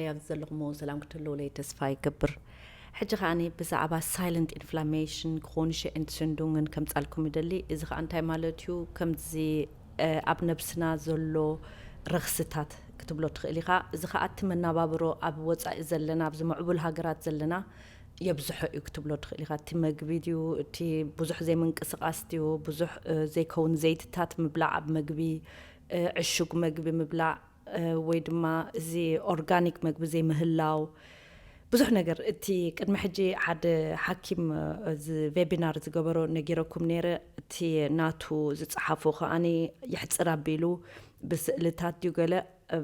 ኣይ ኣብዚ ዘለኹሞ ሰላም ክትህልውለይ ተስፋ ይገብር ሕጂ ከኣ ብዛዕባ ሳይለንት ኢንፍላሜሽን ክሮንሸ ኤንትስንዱንግን ከምጻልኩም ይደሊ እዚ ከኣ እንታይ ማለት እዩ ከምዚ ኣብ ነብስና ዘሎ ረኽስታት ክትብሎ ትኽእል ኢኻ እዚ ከኣ እቲ መናባብሮ ኣብ ወጻኢ ዘለና ኣብዚ ምዕቡል ሃገራት ዘለና የብዝሖ እዩ ክትብሎ ትኽእል ኢኻ እቲ መግቢ ድዩ እቲ ብዙሕ ዘይምንቅስቃስ ድዩ ብዙሕ ዘይከውን ዘይትታት ምብላዕ ኣብ መግቢ ዕሹግ መግቢ ምብላዕ ወይ ድማ እዚ ኦርጋኒክ መግቢ ዘይምህላው ብዙሕ ነገር እቲ ቅድሚ ሕጂ ሓደ ሓኪም እዚ ቬቢናር ዝገበሮ ነጊረኩም ነይረ እቲ ናቱ ዝፀሓፎ ከዓኒ ይሕፅር ኣቢሉ ብስእልታት ድዩ ገለ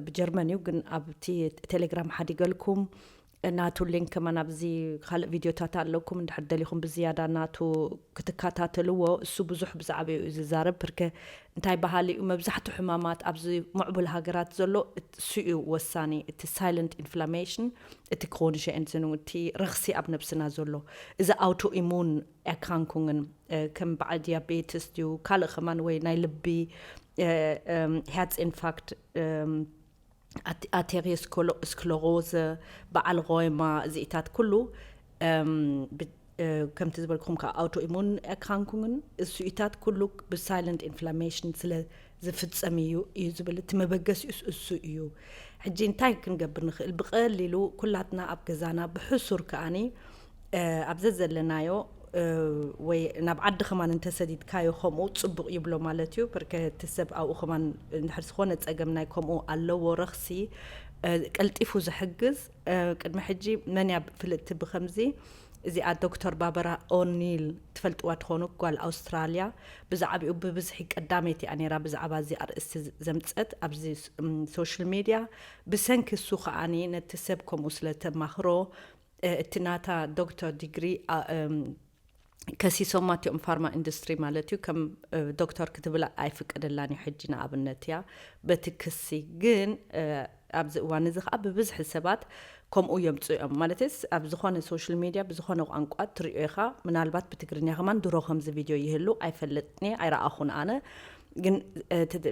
ብጀርመን እዩ ግን ኣብቲ ቴሌግራም ሓዲገልኩም ናቱ ሊንክ ከማን ኣብዚ ካልእ ቪድዮታት ኣለኩም እንድሕር ደሊኹም ብዝያዳ ናቱ ክትካታተልዎ እሱ ብዙሕ ብዛዕባኡ እዩ ዝዛረብ ብርከ እንታይ በሃሊ እዩ መብዛሕቱ ሕማማት ኣብዚ ምዕቡል ሃገራት ዘሎ እሱ እዩ ወሳኒ እቲ ሳይለንት ኢንፍላሜሽን እቲ ክሮኒሸ ኤንዝኑ እቲ ረኽሲ ኣብ ነብስና ዘሎ እዚ ኣውቶ ኢሙን ኤርካንኩንግን ከም በዓል ዲያቤትስ ድዩ ካልእ ከማን ወይ ናይ ልቢ ሄርትስ ኢንፋክት ኣቴሪዮስክለሮዝ፣ በዓል ሮይማ፣ እዚኢታት ኩሉ ከምቲ ዝበልኩም ከዓ ኣውቶኢሙን ኤርክራንኩንግን እሱኢታት ኩሉ ብሳይለንት ኢንፍላሜሽን ስለ ዝፍፀም እዩ እዩ ዝብል እቲ መበገሲኡስ እሱ እዩ። ሕጂ እንታይ ክንገብር ንኽእል? ብቐሊሉ ኩላትና ኣብ ገዛና ብሕሱር ከኣኒ ኣብ ዘዘለናዮ ወይ ናብ ዓዲ ከማን እንተሰዲድካዮ ከምኡ ፅቡቅ ይብሎ ማለት እዩ ብርከ እቲ ሰብ ኣብኡ ከማን እንድሕር ዝኾነ ፀገም ናይ ከምኡ ኣለዎ ረኽሲ ቀልጢፉ ዝሕግዝ ቅድሚ ሕጂ መን እያ ፍልጥቲ ብከምዚ እዚኣ ዶክተር ባበራ ኦኒል ትፈልጥዋ ትኾኑ ጓል ኣውስትራልያ ብዛዕባኡ ብብዝሒ ቀዳመይቲ እያ ነይራ ብዛዕባ እዚ ኣርእስቲ ዘምፀት ኣብዚ ሶሻል ሚድያ ብሰንኪ እሱ ከዓኒ ነቲ ሰብ ከምኡ ስለተማኽሮ እቲ ናታ ዶክተር ዲግሪ ከሲሶማ እቲኦም ፋርማ ኢንዱስትሪ ማለት እዩ ከም ዶክተር ክትብላ ኣይፍቀደላን እዩ ሕጂ ንኣብነት እያ በቲ ክሲ ግን ኣብዚ እዋን እዚ ከዓ ብብዝሒ ሰባት ከምኡ የምፅኡ እዮም ማለትስ ኣብ ዝኾነ ሶሻል ሚድያ ብዝኾነ ቋንቋ ትሪኦ ኢኻ ምናልባት ብትግርኛ ከማን ድሮ ከምዚ ቪድዮ ይህሉ ኣይፈለጥኒ ኣይረኣኹን ኣነ ግን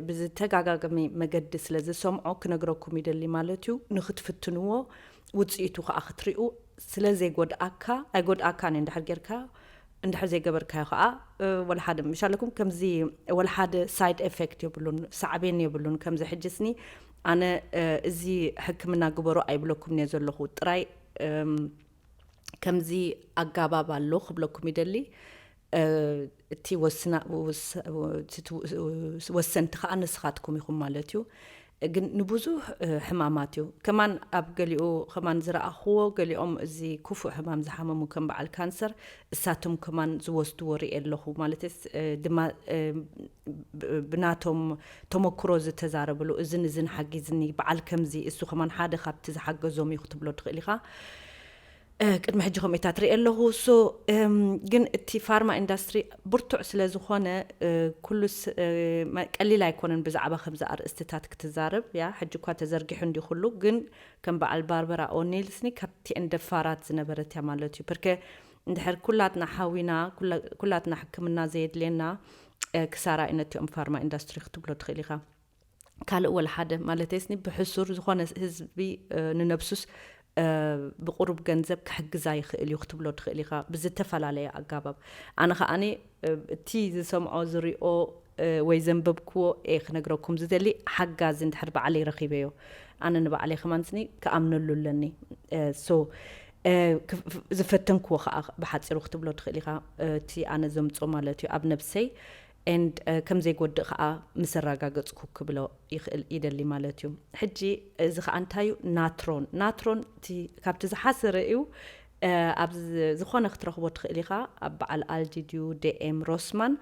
ብዝተጋጋገሚ መገዲ ስለ ዝሰምዖ ክነግረኩም ይደሊ ማለት እዩ ንክትፍትንዎ ውጽኢቱ ከኣ ክትሪኡ ስለ ዘይጎድኣካ ኣይጎድኣካን እዩ እንድሕር ጌርካ እንድሕር ዘይገበርካዮ ከኣ ወላ ሓደ ምሽ ኣለኩም ከምዚ ወላ ሓደ ሳይድ ኤፌክት የብሉን ሳዕቤን የብሉን ከምዚ ሕጅስኒ ኣነ እዚ ሕክምና ግበሩ ኣይብለኩም እየ ዘለኹ ጥራይ ከምዚ ኣጋባብ ኣሎ ክብለኩም ይደሊ እቲ ወሰንቲ ከኣ ንስኻትኩም ኢኹም ማለት እዩ ግን ንብዙሕ ሕማማት እዩ ከማን ኣብ ገሊኡ ከማን ዝረኣኽዎ ገሊኦም እዚ ክፉእ ሕማም ዝሓመሙ ከም በዓል ካንሰር እሳቶም ከማን ዝወስድዎ ርኤ ኣለኹ ማለት ድማ ብናቶም ተመክሮ ዝተዛረብሉ እዝን እዝን ሓጊዝኒ በዓል ከምዚ እሱ ከማን ሓደ ካብቲ ዝሓገዞም እዩ ክትብሎ ትኽእል ኢኻ ቅድሚ ሕጂ ከምኡታት ርእ ኣለኹ ሶ ግን እቲ ፋርማ ኢንዳስትሪ ብርቱዕ ስለ ዝኾነ ኩሉ ቀሊል ኣይኮነን ብዛዕባ ከምዚ ኣርእስትታት ክትዛረብ ያ ሕጂ እኳ ተዘርጊሑ እንዲ ኩሉ ግን ከም በዓል ባርበራ ኦኒልስኒ ካብቲኤን ደፋራት ዝነበረት እያ ማለት እዩ ፐርከ እንድሕር ኩላትና ሓዊና ኩላትና ሕክምና ዘየድልየና ክሳራ እዩ ነቲኦም ፋርማ ኢንዳስትሪ ክትብሎ ትኽእል ኢኻ ካልእ ወላ ሓደ ማለተይስኒ ብሕሱር ዝኾነ ህዝቢ ንነብሱስ ብቁሩብ ገንዘብ ክሕግዛ ይኽእል እዩ ክትብሎ ትኽእል ኢኻ ብዝተፈላለየ ኣጋባብ ኣነ ከዓኒ እቲ ዝሰምዖ ዝሪኦ ወይ ዘንበብክዎ እየ ክነግረኩም ዝደሊ ሓጋዚ እንድሕር ባዕለይ ረኺበዮ ኣነ ንባዕለይ ከማንስኒ ክኣምነሉ ኣለኒ ሶ ዝፈተንክዎ ከዓ ብሓፂሩ ክትብሎ ትኽእል ኢኻ እቲ ኣነ ዘምፆ ማለት እዩ ኣብ ነብሰይ and ከም ዘይጎድእ ከኣ ምስ ኣራጋገጽኩ ክብሎ ይክእል ይደሊ ማለት እዩ ሕጂ እዚ ከኣ እንታይ እዩ ናትሮን ናትሮን እቲ ካብቲ ዝሓሰረ እዩ ኣብ ዝኾነ ክትረኽቦ ትኽእል ኢኻ ኣብ በዓል ኣልዲ ድዩ ዴኤም ሮስማን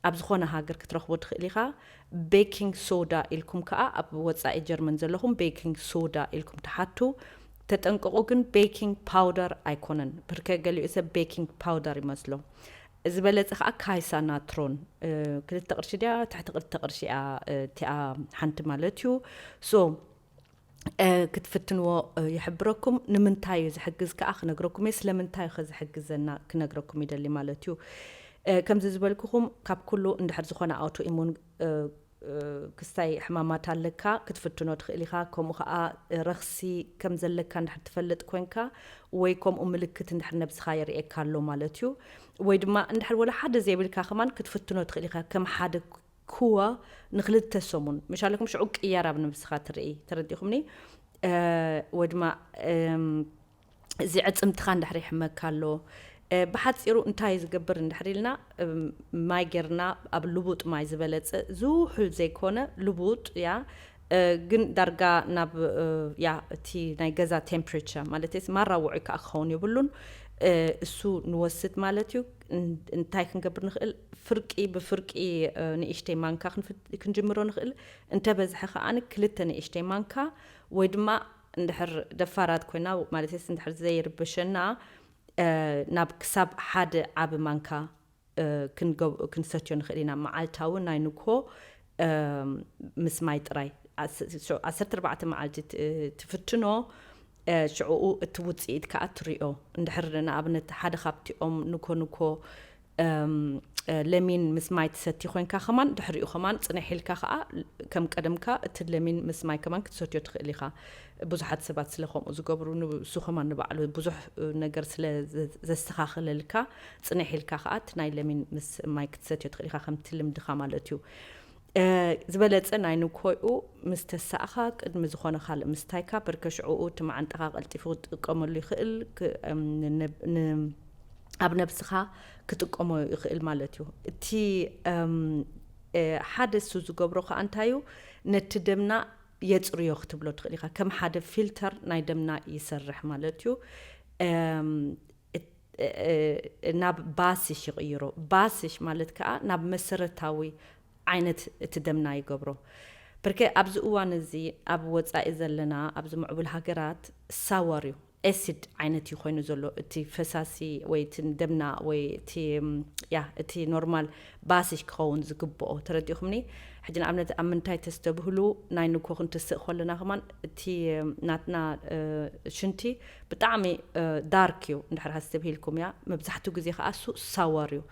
ኣብ ዝኾነ ሃገር ክትረኽቦ ትኽእል ኢኻ ቤኪንግ ሶዳ ኢልኩም ከኣ ኣብ ወጻኢ ጀርመን ዘለኹም ቤኪንግ ሶዳ ኢልኩም ትሓቱ ተጠንቀቑ ግን ቤኪንግ ፓውደር ኣይኮነን ብርከ ገሊኡ ሰብ ቤኪንግ ፓውደር ይመስሎ ዝበለጸ ከኣ ካይሳ ናትሮን ክልተ ቅርሺ ድያ ትሕቲ ክልተ ቅርሺ እያ እቲኣ ሓንቲ ማለት እዩ ሶ ክትፍትንዎ ይሕብረኩም ንምንታይ እዩ ዝሕግዝ ከኣ ክነግረኩም እየ ስለምንታይ ከ ዝሕግዘና ክነግረኩም ይደሊ ማለት እዩ ከምዚ ዝበልኩኹም ካብ ኩሉ እንድሕር ዝኾነ ኣውቶ ኢሙን ክስታይ ሕማማት ኣለካ ክትፍትኖ ትክእል ኢካ ከምኡ ከኣ ረክሲ ከም ዘለካ እንድሕር ትፈልጥ ኮንካ ወይ ከምኡ ምልክት እንድሕር ነብስካ የርእየካ ኣሎ ማለት እዩ ወይ ድማ እንድሕር ወላ ሓደ ዘይብልካ ከማን ክትፍትኖ ትክእል ኢካ ከም ሓደ ክዋ ንክልተ ሰሙን ምሻለኩም ሽዑ ቅያር ኣብ ነብስካ ትርኢ ተረዲኩምኒ ወይ ድማ እዚ ኣዕጽምትኻ እንድሕር ይሕመካ ኣሎ ብሓጺሩ እንታይ ዝገብር እንድሕር ኢልና ማይ ጌርና ኣብ ልቡጥ ማይ ዝበለጸ ዝውሑል ዘይኮነ ልቡጥ ያ ግን ዳርጋ ናብ ያ እቲ ናይ ገዛ ቴምፕሬቸር ማለት ማራ ውዑይ ከዓ ክኸውን የብሉን እሱ ንወስድ ማለት እዩ እንታይ ክንገብር ንኽእል ፍርቂ ብፍርቂ ንእሽተይ ማንካ ክንጅምሮ ንኽእል እንተበዝሐ ከዓኒ ክልተ ንእሽተይ ማንካ ወይ ድማ እንድሕር ደፋራት ኮይና ማለተይስ እንድሕር ዘይርብሸና ናብ ክሳብ ሓደ ዓቢ ማንካ ክንሰትዮ ንኽእል ኢና መዓልታዊ ናይ ንግሆ ምስ ማይ ጥራይ ዓሰርተ ኣርባዕተ መዓልቲ ትፍትኖ ሽዕኡ እቲ ውጽኢት ከኣ ትሪኦ እንድሕር ንኣብነት ሓደ ካብቲኦም ንግሆ ንግሆ ለሚን ምስ ማይ ትሰቲ ኮንካ ከማን ድሕሪኡ ከማን ጽንሕ ኢልካ ከኣ ከም ቀደምካ እቲ ለሚን ምስ ማይ ከማን ክትሰትዮ ትኽእል ኢኻ ብዙሓት ሰባት ስለ ከምኡ ዝገብሩ ንሱ ከማን ንባዕሉ ብዙሕ ነገር ስለ ዘስተኻኽለልካ ጽንሕ ኢልካ ከኣ እቲ ናይ ለሚን ምስ ማይ ክትሰትዮ ትኽእል ኢኻ ከምቲ ልምድኻ ማለት እዩ ዝበለጸ ናይ ንኮይኡ ምስ ተሳእኻ ቅድሚ ዝኾነ ካልእ ምስታይካ ብርከ ሽዕኡ እቲ መዓንጣኻ ቀልጢፉ ክትጥቀመሉ ይኽእል ን ኣብ ነብስኻ ክጥቀሞ ይኽእል ማለት እዩ እቲ ሓደ እሱ ዝገብሮ ከኣ እንታይ እዩ ነቲ ደምና የጽርዮ ክትብሎ ትኽእል ኢኻ ከም ሓደ ፊልተር ናይ ደምና ይሰርሕ ማለት እዩ። ናብ ባስሽ ይቕይሮ። ባስሽ ማለት ከኣ ናብ መሰረታዊ ዓይነት እቲ ደምና ይገብሮ። ብርከ ኣብዚ እዋን እዚ ኣብ ወጻኢ ዘለና ኣብዚ ምዕቡል ሃገራት ሳወር እዩ፣ acid፣ ዓይነት እዩ ኮይኑ ዘሎ እቲ ፈሳሲ ወይ እቲ ደምና ወይ እቲ ያህ እቲ ኖርማል ባስሽ ክኸውን ዝግብኦ ተረዲእኹምኒ ሕጂ ንኣብነት ኣብ ምንታይ ተስተብህሉ ናይ ንግሆ ክንትስእ ኮለና ከማን እቲ ናትና ሽንቲ ብጣዕሚ ዳርክ እዩ እንድሕር ኣስተብሂልኩም እያ መብዛሕትኡ ግዜ ከኣ እሱ ሳወር እዩ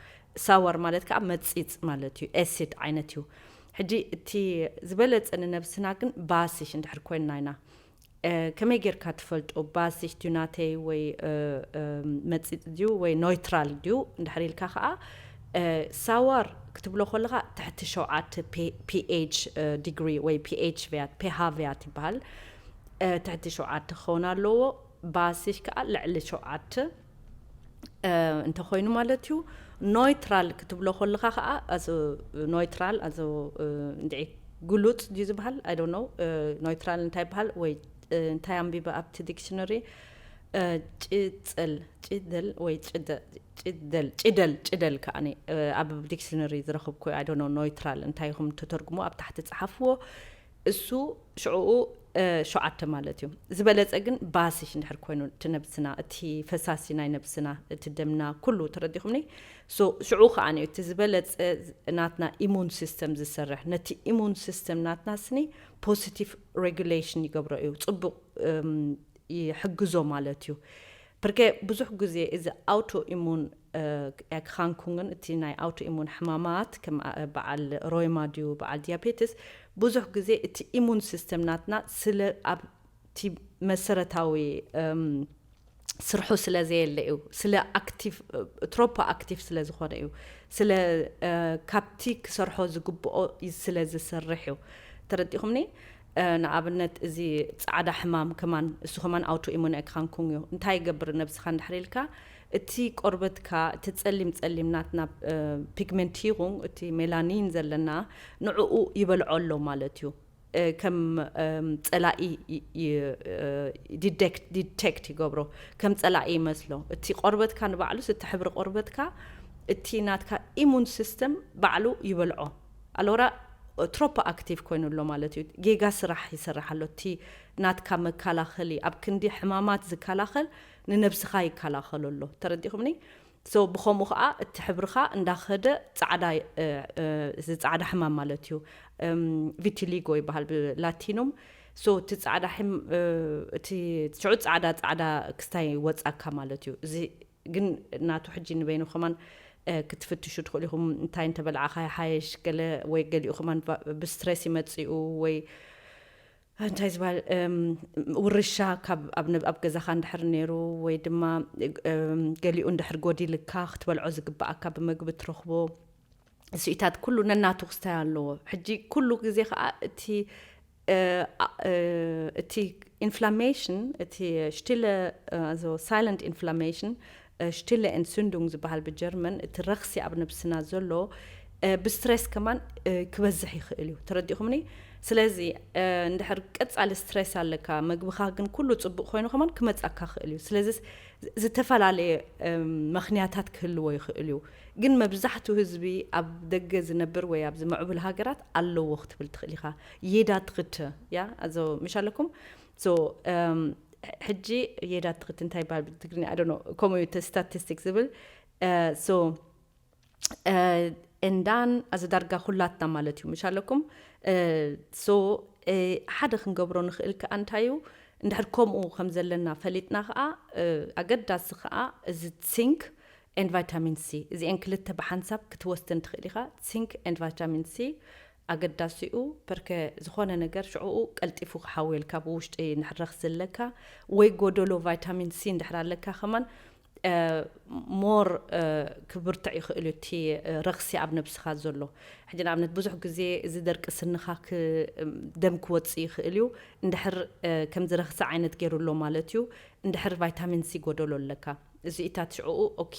ሳወር ማለት ከኣ መጺጽ ማለት እዩ ኤሲድ ዓይነት እዩ ሕጂ እቲ ዝበለጸ ንነብስና ግን ባስሽ እንድሕር ኮይንና ኢና ከመይ ጌርካ ትፈልጦ ባሲሽ ድዩ ናተይ ወይ መጺጽ ድዩ ወይ ኖይትራል ድዩ እንድሕር ኢልካ ከኣ ሳዋር ክትብሎ ከለኻ ትሕቲ ሸውዓተ ፒኤች ዲግሪ ወይ ፒኤች ቪያት ፔሃ ቪያት ይበሃል ትሕቲ ሸውዓተ ክኸውን ኣለዎ ባሲሽ ከኣ ልዕሊ ሸውዓተ እንተኾይኑ ማለት እዩ ኖይትራል ክትብሎ ከለካ ከዓ ኣዝ ኖይትራል ኣዝ እንድዒ ግሉፅ ድዩ ዝበሃል ኣይ ዶንት ኖው ኖይትራል እንታይ ይበሃል ወይ እንታይ ኣንቢበ ኣብቲ ዲክሽነሪ ጭፅል ጭደል ወይ ጭደል ጭደል ጭደል ከዓ ኣብ ዲክሽነሪ ዝረኽብኩ ኣይ ዶንት ኖው ኖይትራል እንታይ ኢኹም ተተርጉሞ ኣብ ታሕቲ ፀሓፍዎ እሱ ሽዑኡ ሸውዓተ ማለት እዩ። ዝበለጸ ግን ባስሽ እንድሕር ኮይኑ እቲ ነብስና እቲ ፈሳሲ ናይ ነብስና እቲ ደምና ኩሉ ተረዲኹምኒ so ሽዑ ከኣ እዩ እቲ ዝበለጸ ናትና ኢሙን ሲስተም ዝሰርሕ ነቲ ኢሙን ሲስተም ናትና ስኒ ፖሲቲቭ ሬጉሌሽን ይገብሮ እዩ ጽቡቕ ይሕግዞ ማለት እዩ ፕርከ ብዙሕ ግዜ እዚ ኣውቶ ኢሙን ኤግካንኩንግን እቲ ናይ ኣውቶኢሙን ሕማማት ከም በዓል ሮይማ ድዩ በዓል ድያቤትስ ብዙሕ ግዜ እቲ ኢሙን ሲስተም ናትና ስለ ኣብቲ መሰረታዊ ስርሑ ስለ ዘየለ እዩ ስለ ኣክቲቭ ትሮፖ ኣክቲቭ ስለ ዝኾነ እዩ ስለ ካብቲ ክሰርሖ ዝግብኦ ስለ ዝሰርሕ እዩ ተረዲኹምኒ ንኣብነት እዚ ጻዕዳ ሕማም ከማን እሱ ከማን ኣውቶ ኢሙን ኤግካንኩንግ እዩ እንታይ ይገብር ነብስኻ እንድሕር ኢልካ እቲ ቆርበትካ፣ እቲ ጸሊም ጸሊም ናትና ፒግመንቲሩንግ፣ እቲ ሜላኒን ዘለና፣ ንዕኡ ይበልዖ ኣሎ ማለት እዩ። ከም ጸላኢ ዲደክት፣ ዲተክት፣ ይገብሮ። ከም ጸላኢ ይመስሎ። እቲ ቆርበትካ ንባዕሉስ፣ እቲ ሕብሪ ቆርበትካ፣ እቲ ናትካ ኢሙን ሲስተም ባዕሉ ይበልዖ። ኣሎራ ትሮፖ ኣክቲቭ ኮይኑ ኣሎ ማለት እዩ። ጌጋ ስራሕ ይሰርሕ ኣሎ። እቲ ናትካ መካላኸሊ፣ ኣብ ክንዲ ሕማማት ዝካላኸል፣ ንነብስኻ ይከላኸሎ ኣሎ ተረዲኹምኒ so ብኸምኡ ኸኣ እቲ ሕብርኻ እንዳኸደ ጻዕዳ እዚ ጻዕዳ ሕማም ማለት እዩ ቪቲሊጎ ይበሃል ብላቲኑም so እቲ ጻዕዳ ሕም እቲ ሽዑ ጻዕዳ ጻዕዳ ክስታይ ይወጻካ ማለት እዩ እዚ ግን ናቱ ሕጂ ንበይኑ ከማን ክትፍትሹ ትኽእሉ ኢኹም እንታይ እንተበልዓኻ ይሓየሽ ገለ ወይ ገሊኡ ከማን ብስትሬስ ይመጽኡ ወይ እንታይ ዝበሃል ውርሻ ካብ ኣብ ገዛኻ እንድሕር ነይሩ ወይ ድማ ገሊኡ እንድሕር ጎዲልካ ክትበልዖ ዝግብኣካ ብመግቢ እትረኽቦ ስኢታት ኩሉ ነናቱ ክስታይ ኣለዎ ሕጂ ኩሉ ግዜ ከዓ እቲ እቲ ኢንፍላሜሽን እቲ ሽቲለ ሳይለንት ኢንፍላሜሽን Stille Entzündung ዝበሃል ብጀርመን እቲ ረኽሲ ኣብ ነብስና ዘሎ ብስትሬስ ከማን ክበዝሕ ይኽእል እዩ ተረዲእኹምኒ ስለዚ እንድሕር ቀጻሊ ስትሬስ ኣለካ መግብኻ ግን ኩሉ ጽቡቅ ኮይኑ ከማን ክመጻካ ይኽእል እዩ ስለዚ ዝተፈላለየ መኽንያታት ክህልዎ ይኽእል እዩ ግን መብዛሕቱ ህዝቢ ኣብ ደገ ዝነብር ወይ ኣብዚ ምዕቡል ሃገራት ኣለዎ ክትብል ትኽእል ኢኻ jeder dritte ja also ምሽ ኣለኩም So ሕጂ የዳ ትክት እንታይ ይበሃል ብትግርኛ ኣይ ዶንት ኖ ከምኡ እዩ ስታቲስቲክ ዝብል ሶ እንዳን ኣዚ ዳርጋ ኩላትና ማለት እዩ ምሽ ኣለኩም ሶ ሓደ ክንገብሮ ንኽእል ከዓ እንታይ እዩ እንድሕር ከምኡ ከም ዘለና ፈሊጥና ከዓ ኣገዳሲ ከዓ እዚ ሲንክ ኤንድ ቫይታሚን ሲ እዚአን ክልተ ብሓንሳብ ክትወስደን ትኽእል ኢኻ ሲንክ ኤንድ ቫይታሚን ሲ ኣገዳሲኡ ፐርከ ዝኾነ ነገር ሽዑኡ ቀልጢፉ ክሓውየልካ ብውሽጢ ንሕረኽ ዝለካ ወይ ጎዶሎ ቫይታሚን ሲ እንድሕር ኣለካ ከማን ሞር ክብርትዕ ይኽእል እዩ እቲ ረኽሲ ኣብ ነብስኻ ዘሎ ሕጂ ንኣብነት ብዙሕ ግዜ እዚ ደርቂ ስንኻ ደም ክወጽእ ይኽእል እዩ እንድሕር ከምዚ ረኽሲ ዓይነት ገይሩ ኣሎ ማለት እዩ እንድሕር ቫይታሚን ሲ ጎደሎ ኣለካ እዚ እታ ሽዕኡ ኦኬ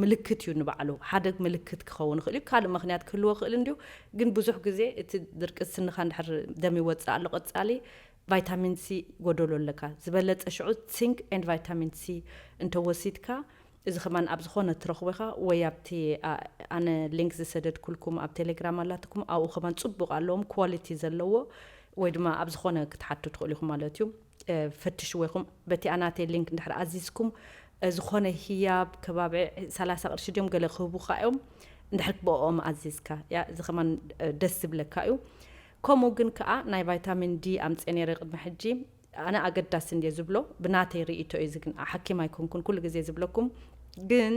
ምልክት እዩ ንባዕሉ ሓደ ምልክት ክኸውን ይኽእል እዩ ካልእ ምኽንያት ክህልዎ ይኽእል እንድዩ ግን ብዙሕ ግዜ እቲ ድርቂ ስንኻ እንድሕር ደም ይወጽእ ኣሎ ቀጻሊ ቫይታሚን ሲ ጎደሎ ኣለካ ዝበለጸ ሽዑ ሲንክ ኤንድ ቫይታሚን ሲ እንተወሲድካ እዚ ከማን ኣብ ዝኾነ ትረኽቦ ኢኻ ወይ ኣብቲ ኣነ ሊንክ ዝሰደድኩልኩም ኣብ ቴሌግራም ኣላትኩም ኣብኡ ከማን ጽቡቕ ኣለዎም ኳሊቲ ዘለዎ ወይ ድማ ኣብ ዝኾነ ክትሓቱ ትኽእሉ ኢኹም ማለት እዩ ፈትሽዎ ኢኹም በቲኣ ናተይ ሊንክ እንድሕር ኣዚዝኩም ዝኾነ ህያብ ከባቢ ሰላሳ ቅርሺ ድዮም ገለ ክህቡኻ እዮም እንድሕር ብኦም ኣዚዝካ ያ እዚ ከማን ደስ ዝብለካ እዩ ከምኡ ግን ከዓ ናይ ቫይታሚን ዲ ኣምፀ ነይረ ቅድሚ ሕጂ ኣነ ኣገዳሲ እንድየ ዝብሎ ብናተይ ርእቶ እዩ እዚ ግን ሓኪም ኣይኮንኩን ኩሉ ግዜ ዝብለኩም ግን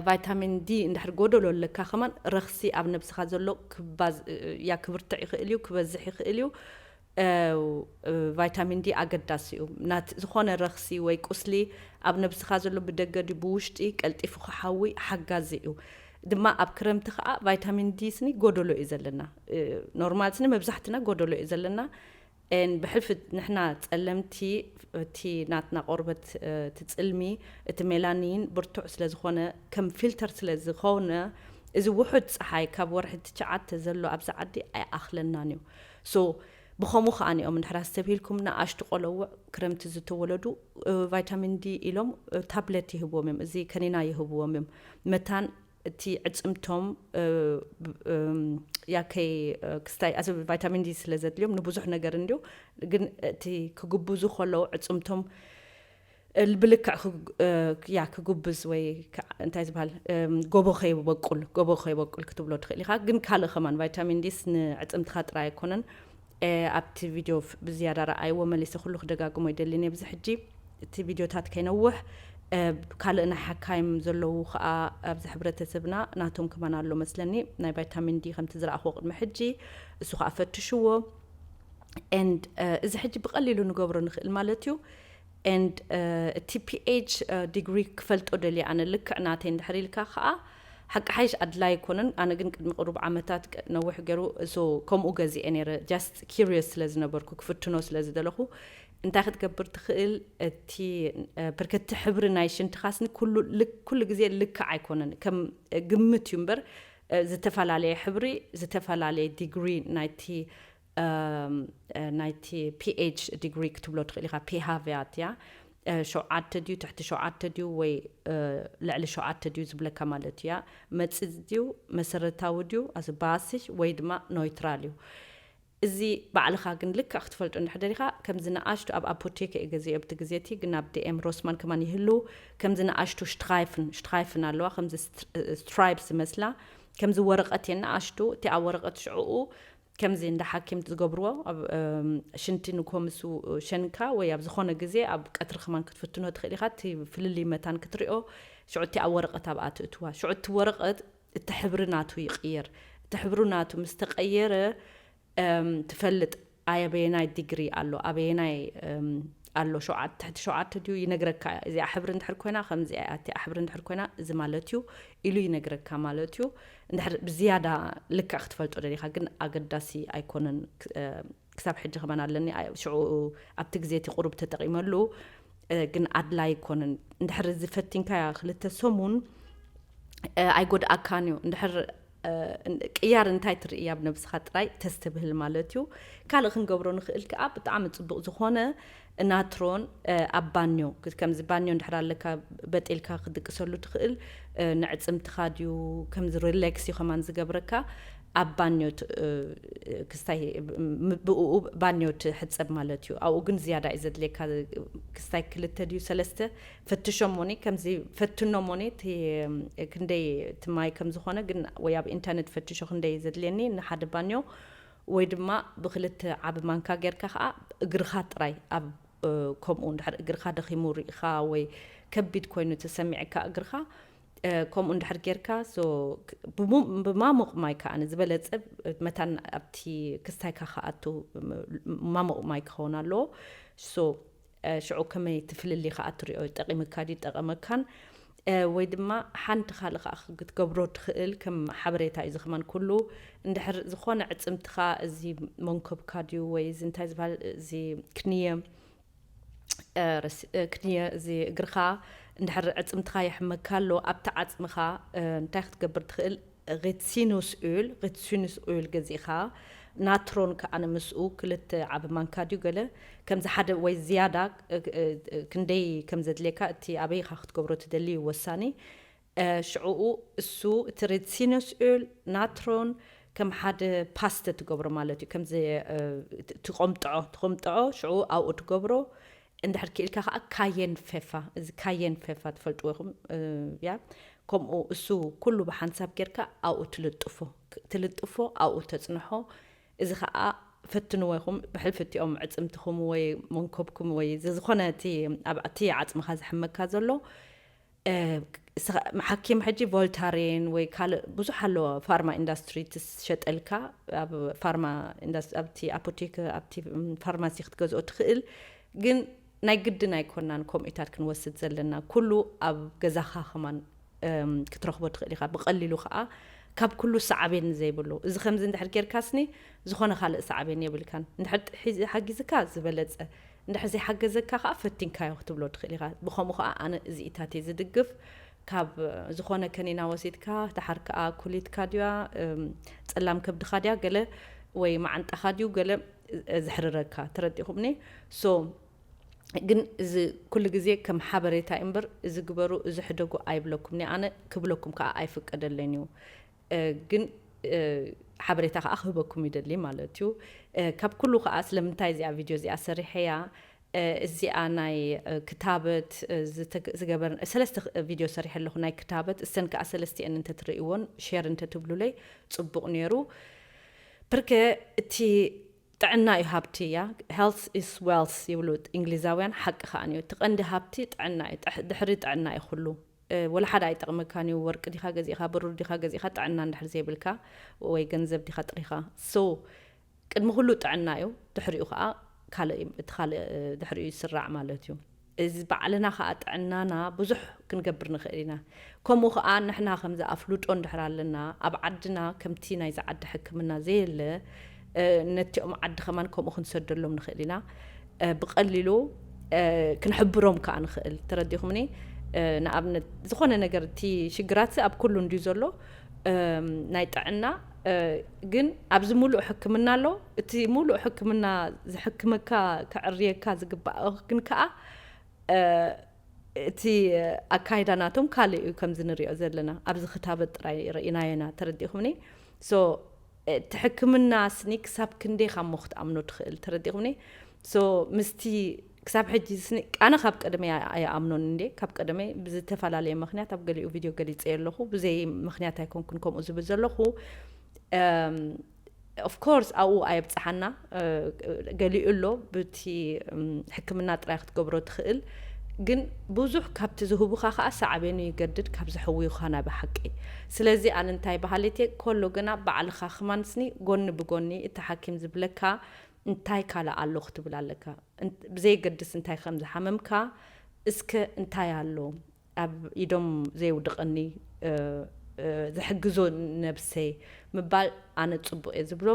ቫይታሚን ዲ እንድሕር ጎደሎ ኣለካ ከማን ረኽሲ ኣብ ነብስኻ ዘሎ ክባዝ ያ ክብርትዕ ይኽእል እዩ ክበዝሕ ይኽእል እዩ ቫይታሚን ዲ ኣገዳሲ እዩ። ናት ዝኾነ ረኽሲ ወይ ቁስሊ ኣብ ነብስኻ ዘሎ ብደገ ድዩ ብውሽጢ ቀልጢፉ ክሓዊ ሓጋዚ እዩ። ድማ ኣብ ክረምቲ ከኣ ቫይታሚን ዲ ስኒ ጎደሎ እዩ ዘለና። ኖርማል ስኒ መብዛሕትና ጎደሎ እዩ ዘለና። ን ብሕልፊ ንሕና ጸለምቲ እቲ ናትና ቆርበት እቲ ጽልሚ እቲ ሜላኒን ብርቱዕ ስለ ዝኾነ ከም ፊልተር ስለ ዝኾነ እዚ ውሑድ ጸሓይ ካብ ወርሒ ትችዓተ ዘሎ ኣብዚ ዓዲ ኣይኣኽለናን እዩ። So ብኸምኡ ከኣ እዮም እንድሕር ኣስተብሂልኩም ንኣሽቱ ቆሎውዕ ክረምቲ ዝተወለዱ ቫይታሚን ዲ ኢሎም ታብለት ይህብዎም እዮም እዚ ከኒና ይህብዎም እዮም መታን እቲ ዕጽምቶም ያከይ ክስታይ ኣዚ ቫይታሚን ዲ ስለ ዘድልዮም ንብዙሕ ነገር እንድዩ ግን እቲ ክግብዙ ከለዉ ዕጽምቶም እል ብልክዕ ክግ ያ ክጉብዝ ወይ ክዓ እንታይ ዝብሃል ጎቦ ከይበቁል ጎቦ ከይበቁል ክትብሎ ትኽእል ኢኻ ግን ካልእ ከማን ቫይታሚን ዲስ ንዕጽምትኻ ጥራይ ኣይኮነን ኣብቲ ቪድዮ ብዝያዳ ረኣይዎ መሊሰ ኩሉ ክደጋግሞ ይደልን እየ ብዚ ሕጂ እቲ ቪድዮታት ከይነውሕ ካልእ ናይ ሓካይም ዘለዉ ከዓ ኣብዚ ሕብረተሰብና ናቶም ከማን ኣሎ መስለኒ ናይ ቫይታሚን ዲ ከምቲ ዝረኣኽዎ ቅድሚ ሕጂ እሱ ከዓ ፈትሽዎ ን እዚ ሕጂ ብቀሊሉ ንገብሮ ንኽእል ማለት እዩ and እቲ PH degree ክፈልጦ ደልየ ኣነ ልክዕ ናተይ እንድሕር ኢልካ ከኣ ሓቂ ሓይሽ ኣድላይ ኣይኮነን ኣነ ግን ቅድሚ ቅሩብ ዓመታት ነዊሕ ገሩ so ከምኡ ገዚኤ ነይረ just curious ስለ ዝነበርኩ ክፍትኖ ስለ ዝደለኹ እንታይ ክትገብር ትኽእል እቲ ብርክ እቲ ሕብሪ ናይ ሽንትኻስኒ ኩሉ ኩሉ ግዜ ልክዕ ኣይኮነን ከም ግምት እዩ እምበር ዝተፈላለየ ሕብሪ ዝተፈላለየ ዲግሪ ናይቲ ናይቲ ፒኤች ዲግሪ ክትብሎ ትኽእል ኢኻ ፒሃቭያት እያ ሸውዓተ ድዩ ትሕቲ ሸውዓተ ድዩ ወይ ልዕሊ ሸውዓተ ድዩ ዝብለካ ማለት እያ መፅፅ ድዩ መሰረታዊ ድዩ ኣዚ ባሲሽ ወይ ድማ ኖይትራል እዩ እዚ ባዕልኻ ግን ልክዕ ክትፈልጦ እንድሕደር ኢኻ ከምዚ ንኣሽቱ ኣብ ኣፖቴክ እየ ገዚኦ ብቲ ግዜ እቲ ግን ኣብ ዲኤም ሮስማን ከማን ይህልው ከምዚ ንኣሽቱ ሽትራይፍን ሽትራይፍን ኣለዋ ከምዚ ስትራይፕ ዝመስላ ከምዚ ወረቐት እየን ንኣሽቱ እቲኣ ወረቐት ሽዕኡ ከምዚ እንዳ ሓኪምት ዝገብርዎ ኣብ ሽንቲ ንግሆ ምስ ሸንካ ወይ ኣብ ዝኾነ ግዜ ኣብ ቀትሪ ከማን ክትፍትኖ ትኽእል ኢኻ እቲ ፍልልይ መታን ክትሪኦ ሽዑ እቲኣ ወረቐት ኣብኣ ትእትዋ ሽዑ እቲ ወረቐት እቲ ሕብሪ ናቱ ይቕየር እቲ ሕብሩ ናቱ ምስ ተቐየረ ትፈልጥ ኣበየናይ ዲግሪ ኣሎ ኣበየናይ ኣሎ ሸውዓተ ትሕቲ ሸውዓተ ድዩ ይነግረካ እያ እዚኣ ሕብሪ እንድሕር ኮይና ከምዚኣ እያ እቲኣ ሕብሪ እንድሕር ኮይና እዚ ማለት እዩ ኢሉ ይነግረካ ማለት እዩ እንድሕር ብዝያዳ ልክዕ ክትፈልጦ ደሊኻ ግን ኣገዳሲ ኣይኮነን ክሳብ ሕጂ ከማን ኣለኒ ሽዑ ኣብቲ ግዜ እቲ ቁሩብ ተጠቒመሉ ግን ኣድላይ ኣይኮነን እንድሕር እዚ ፈቲንካያ ክልተ ሰሙን ኣይጎድኣካን እዩ እንድሕር ቅያር እንታይ ትርኢ ኣብ ነብስኻ ጥራይ ተስተብህል ማለት እዩ ካልእ ክንገብሮ ንኽእል ከዓ ብጣዕሚ ፅቡቕ ዝኾነ ናትሮን ኣብ ባኞ ከምዚ ባኞ እንድሕር ኣለካ በጢልካ ክትድቅሰሉ ትኽእል ንዕጽምትኻ ድዩ ከምዚ ሪሌክስ እዩ ከማን ዝገብረካ ኣብ ባኞ ክስታይ ብኡ ባኞ ትሕጸብ ማለት እዩ ኣብኡ ግን ዝያዳ እዩ ዘድልየካ ክስታይ ክልተ ድዩ ሰለስተ ፈትሾሞኒ ከምዚ ፈትኖሞኒ እቲ ክንደይ እቲ ማይ ከም ዝኾነ ግን ወይ ኣብ ኢንተርነት ፈትሾ ክንደይ ዘድልየኒ ንሓደ ባኞ ወይ ድማ ብክልተ ዓቢ ማንካ ጌርካ ከኣ እግርኻ ጥራይ ኣብ ከምኡ እንድሕር እግርኻ ደኺሙ ርኢኻ ወይ ከቢድ ኮይኑ ተሰሚዕካ እግርኻ ከምኡ እንድሕር ጌርካ so ብማሙቕ ማይ ከኣ ዝበለጸ መታን ኣብቲ ክስታይካ ክኣቱ ማሙቕ ማይ ክኸውን ኣለዎ so ሽዑ ከመይ እቲ ፍልልይ ከኣ ትሪኦ ይጠቂምካ ድዩ ይጠቀመካን ወይ ድማ ሓንቲ ካልእ ከኣ ክትገብሮ ትክእል ከም ሓበሬታ እዩ እዚ ከማን ኩሉ እንድሕር ዝኮነ ዕጽምትካ እዚ መንኮብካ ድዩ ወይ እዚ እንታይ ዝበሃል እዚ ክንየ ክንየ እዚ እግርካ እንድሕር ዕጽምትካ የሕመካ ኣሎ ኣብቲ ዓጽምካ እንታይ ክትገብር ትክእል ሪትሲኑስ ኦል፣ Rizinus Öl፣ ገዚእኻ፣ ናትሮን ከኣ ምስኡ ክልተ ዓቢ ማንካ ድዩ ገለ ከምዚ ሓደ ወይ ዝያዳ ክንደይ ከም ዘድልየካ እቲ ኣበይ ኢኻ ክትገብሮ ትደሊ እዩ ወሳኒ ሽዕኡ እሱ እቲ ሪትሲኑስ ኦል፣ ናትሮን ከም ሓደ ፓስተ ትገብሮ ማለት እዩ ከምዚ ትቆምጥዖ ትቆምጥዖ ሽዕኡ ኣብኡ ትገብሮ እንድሕር ክኢልካ ከኣ ካየን ፌፋ እዚ ካየን ፌፋ ትፈልጥዎ ኢኹም ያ ከምኡ እሱ ኩሉ ብሓንሳብ ጌርካ ኣብኡ ትልጥፎ ትልጥፎ ኣብኡ ተጽንሖ እዚ ከኣ ፈትንዎ ኢኹም ብሕልፊ እቲኦም ዕጽምትኹም ወይ መንኮብኩም ወይ ዝዝኾነ እቲ ኣብ እቲ ዓጽምኻ ዝሕመካ ዘሎ ሓኪም ሕጂ ቮልታሬን ወይ ካልእ ብዙሕ ኣለዎ ፋርማ ኢንዳስትሪ ትሸጠልካ ኣብ ፋርማ ኣብቲ ኣፖቴክ ኣብቲ ፋርማሲ ክትገዝኦ ትኽእል ግን ናይ ግድን ኣይኮናን ከምኡታት ክንወስድ ዘለና ኩሉ ኣብ ገዛኻ ከማን ክትረኽቦ ትኽእል ኢኻ ብቐሊሉ ከዓ ካብ ኩሉ ሳዕቤን ዘይብሉ እዚ ከምዚ እንድሕር ጌርካስኒ ዝኾነ ካልእ ሳዕቤን የብልካን እንድሕር ሓጊዝካ ዝበለፀ እንድሕር ዘይሓገዘካ ከኣ ፈቲንካዮ ክትብሎ ትኽእል ኢኻ። ብኸምኡ ከኣ ኣነ እዚኢታት እየ ዝድግፍ። ካብ ዝኾነ ከኒና ወሲድካ ደሓር ከኣ ኩሊትካ ድያ ጸላም ከብድኻ ድያ ገለ ወይ መዓንጣኻ ድዩ ገለ ዘሕርረካ ተረዲእኹምኒ so ግን እዚ ኩሉ ግዜ ከም ሓበሬታ እዩ እምበር እዚ ግበሩ እዚ ሕደጉ ኣይብለኩምንየ ኣነ ክብለኩም ከኣ ኣይፍቀደለይን እዩ ግን ሓበሬታ ከኣ ክህበኩም ይደሊ ማለት እዩ ካብ ኩሉ ከኣ ስለምንታይ እዚኣ ቪድዮ እዚኣ ሰሪሐያ እዚኣ ናይ ክታበት ዝገበር ሰለስተ ቪድዮ ሰሪሐ ኣለኹ ናይ ክታበት እሰን ከኣ ሰለስቲኤን እንተትርእይዎን ሼር እንተትብሉለይ ጽቡቕ ነይሩ ብርከ እቲ ጥዕና እዩ ሃብቲ እያ ሄልት ኢስ ዌልስ ይብሉ እንግሊዛውያን ሓቂ ከኣን እዩ እቲ ቀንዲ ሃብቲ ጥዕና እዩ ድሕሪ ጥዕና እዩ ኩሉ ወላ ሓደ ኣይጠቅመካን እዩ ወርቂ ዲካ ገዚእካ ብሩር ዲካ ገዚእካ ጥዕና እንድሕር ዘይብልካ ወይ ገንዘብ ዲካ ጥሪካ so ቅድሚ ኩሉ ጥዕና እዩ ድሕሪኡ ከኣ ካልእ እዩ እቲ ካልእ ድሕሪኡ ይስራዕ ማለት እዩ እዚ ባዕልና ከኣ ጥዕናና ብዙሕ ክንገብር ንክእል ኢና ከምኡ ከኣ ንሕና ከምዚ ኣፍልጦ እንድሕር ኣለና ኣብ ዓድና ከምቲ ናይዚ ዓዲ ሕክምና ዘየለ ነቲኦም ዓዲ ከማን ከምኡ ክንሰደሎም ንክእል ኢና ብቀሊሉ ክንሕብሮም ከዓ ንክእል ተረዲኹምኒ ንኣብነት ዝኾነ ነገር እቲ ሽግራት ኣብ ኩሉ እንድዩ ዘሎ ናይ ጥዕና ግን ኣብዚ ሙሉእ ሕክምና ኣሎ እቲ ሙሉእ ሕክምና ዝሕክመካ ክዕርየካ ዝግባእ ግን ከዓ እቲ ኣካይዳ ናቶም ካልእ እዩ ከምዚ ንሪኦ ዘለና ኣብዚ ክታበት ጥራይ ርኢናዮና ተረዲእኹምኒ እቲ ሕክምና ስኒ ክሳብ ክንደይ ካሞ ክትኣምኖ ትኽእል ተረዲኹምኒ so ምስቲ ክሳብ ሕጂ ስኒ ኣነ ካብ ቀደመ ኣይኣምኖን እንዴ ካብ ቀደመ ብዝተፈላለየ ምክንያት ኣብ ገሊኡ ቪድዮ ገሊፀዮ ኣለኹ ብዘይ ምክንያት ኣይኮንኩን ከምኡ ዝብል ዘለኹ ኦፍኮርስ ኣብኡ ኣየብፅሓና ገሊኡ ኣሎ ብቲ ሕክምና ጥራይ ክትገብሮ ትኽእል ግን ብዙሕ ካብቲ ዝህቡኻ ከዓ ሳዕቤኑ ይገድድ ካብ ዘሕውዩኻ ናይ ብሓቂ ስለዚ ኣነ እንታይ በሃሊት እየ ኮሎ ግና ባዕልኻ ክማን ስኒ ጎኒ ብጎኒ እቲ ሓኪም ዝብለካ እንታይ ካልእ ኣሎ ክትብል ኣለካ ብዘየገድስ እንታይ ከም ዝሓመምካ እስከ እንታይ ኣሎ ኣብ ኢዶም ዘየውድቐኒ ዝሕግዞ ነብሰይ ምባል ኣነ ጽቡቕ እየ ዝብሎ።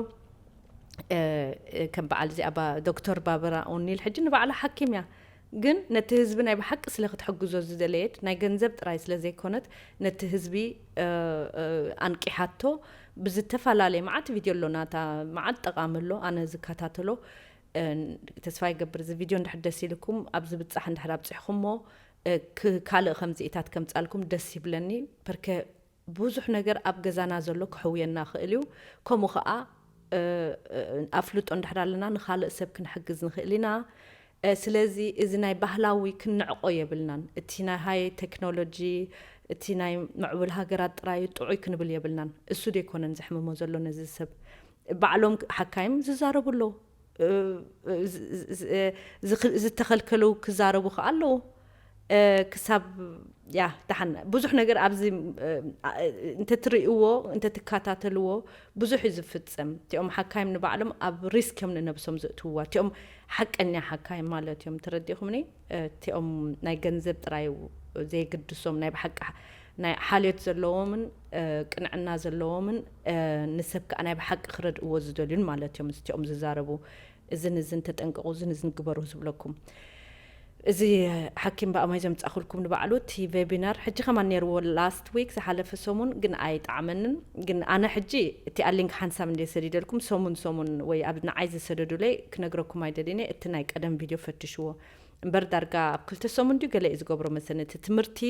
ከም በዓል እዚኣ ባ ዶክተር ባበራ ኦኒል ሕጂ ንባዕላ ሓኪም እያ ግን ነቲ ህዝቢ ናይ ብሓቂ ስለ ክትሕግዞ ዝደለየት ናይ ገንዘብ ጥራይ ስለ ዘይኮነት ነቲ ህዝቢ ኣንቂሓቶ ብዝተፈላለየ መዓት ቪድዮ ኣሎ ናታ መዓት ጠቓሚ ኣሎ ኣነ ዝከታተሎ ተስፋ ይገብር እዚ ቪድዮ እንድሕር ደስ ኢልኩም ኣብ ዝብጻሕ እንድሕር ኣብጺሕኹሞ እክ ካልእ ከምዚኢታት ከምጻልኩም ደስ ይብለኒ ፐርከ ቡዙሕ ነገር ኣብ ገዛና ዘሎ ከሕውየና ይክእል እዩ ከምኡ ከኣ ኣፍልጦ እንድሕር ኣለና ንካልእ ሰብ ክንሕግዝ ንክእል ኢና ስለዚ እዚ ናይ ባህላዊ ክንንዕቆ የብልናን እቲ ናይ ሃይ ተክኖሎጂ እቲ ናይ ምዕቡል ሃገራት ጥራዩ ጥዑይ ክንብል የብልናን እሱ ደይኮነን ዘሕምሞ ዘሎ ነዚ ሰብ ባዕሎም ሓካይም ዝዛረቡ ኣለዉ ዝተኸልከሉ ክዛረቡ ከኣ ኣለዎ ክሳብ ያህ ዳሓን ብዙሕ ነገር ኣብዚ እንተትርእይዎ እንተትካታተልዎ ብዙሕ እዩ ዝፍጸም እቲኦም ሓካይም ንባዕሎም ኣብ ሪስክ እዮም ንነብሶም ዘእትውዋ እቲኦም ሓቀኛ ሓካይም ማለት እዮም ተረዲኹምኒ እቲኦም ናይ ገንዘብ ጥራይ ዘይግድሶም ናይ ብሓቂ ናይ ሓልዮት ዘለዎምን ቅንዕና ዘለዎምን ንሰብ ከኣ ናይ ብሓቂ ክረድእዎ ዝደልዩን ማለት እዮም እዚቲኦም ዝዛረቡ እዝን እዝን ተጠንቀቁ እዝን እዝን ግበሩ ዝብለኩም እዚ ሓኪም ብኣማይ ዘምጻኹልኩም ንባዕሉ እቲ ቬቢናር ሕጂ ከማን ነይርዎ ላስት ዊክ ዝሓለፈ ሰሙን ግን ኣይጣዕመንን ግን ኣነ ሕጂ እቲኣ ሊንክ ሓንሳብ እንደ ሰዲደልኩም ሰሙን ሰሙን ወይ ኣብ ንዓይ ዝሰደዱለይ ክነግረኩም ኣይደልን እየ እቲ ናይ ቀደም ቪድዮ ፈትሽዎ እምበር ዳርጋ ኣብ ክልተ ሰሙን ድዩ ገለ እዩ ዝገብሮ መሰለኒ እቲ ትምህርቲ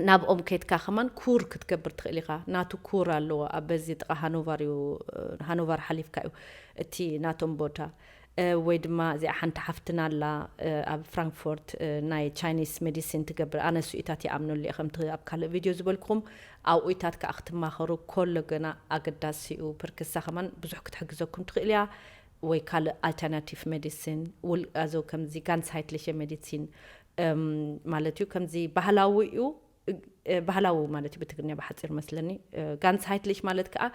ናብኦም ከድካ ከማን ኩር ክትገብር ትክእል ኢካ ናቱ ኩር ኣለዎ ኣብ በዚ ጥቃ ሃኖቫር እዩ ሃኖቫር ሓሊፍካ እዩ እቲ ናቶም ቦታ ወይ ድማ እዚኣ ሓንቲ ሓፍትና ኣላ ኣብ ፍራንክፎርት ናይ ቻይኒስ ሜዲሲን ትገብር ኣነ ስኢታት ይኣምነሉ እየ ከምቲ ኣብ ካልእ ቪድዮ ዝበልኩኹም ኣብኡታት ከዓ ክትማኸሩ ኮሎ ገና ኣገዳሲ እዩ ፕርክሳ ከማን ብዙሕ ክትሕግዘኩም ትኽእል እያ ወይ ካልእ ኣልተርናቲቭ ሜዲሲን ውልቃዞ ከምዚ ጋንሳይትሊሸ ሜዲሲን ማለት እዩ ከምዚ ባህላዊ እዩ ባህላዊ ማለት እዩ ብትግርኛ ብሓፂር መስለኒ ጋንስሃይትሊሽ ማለት ከዓ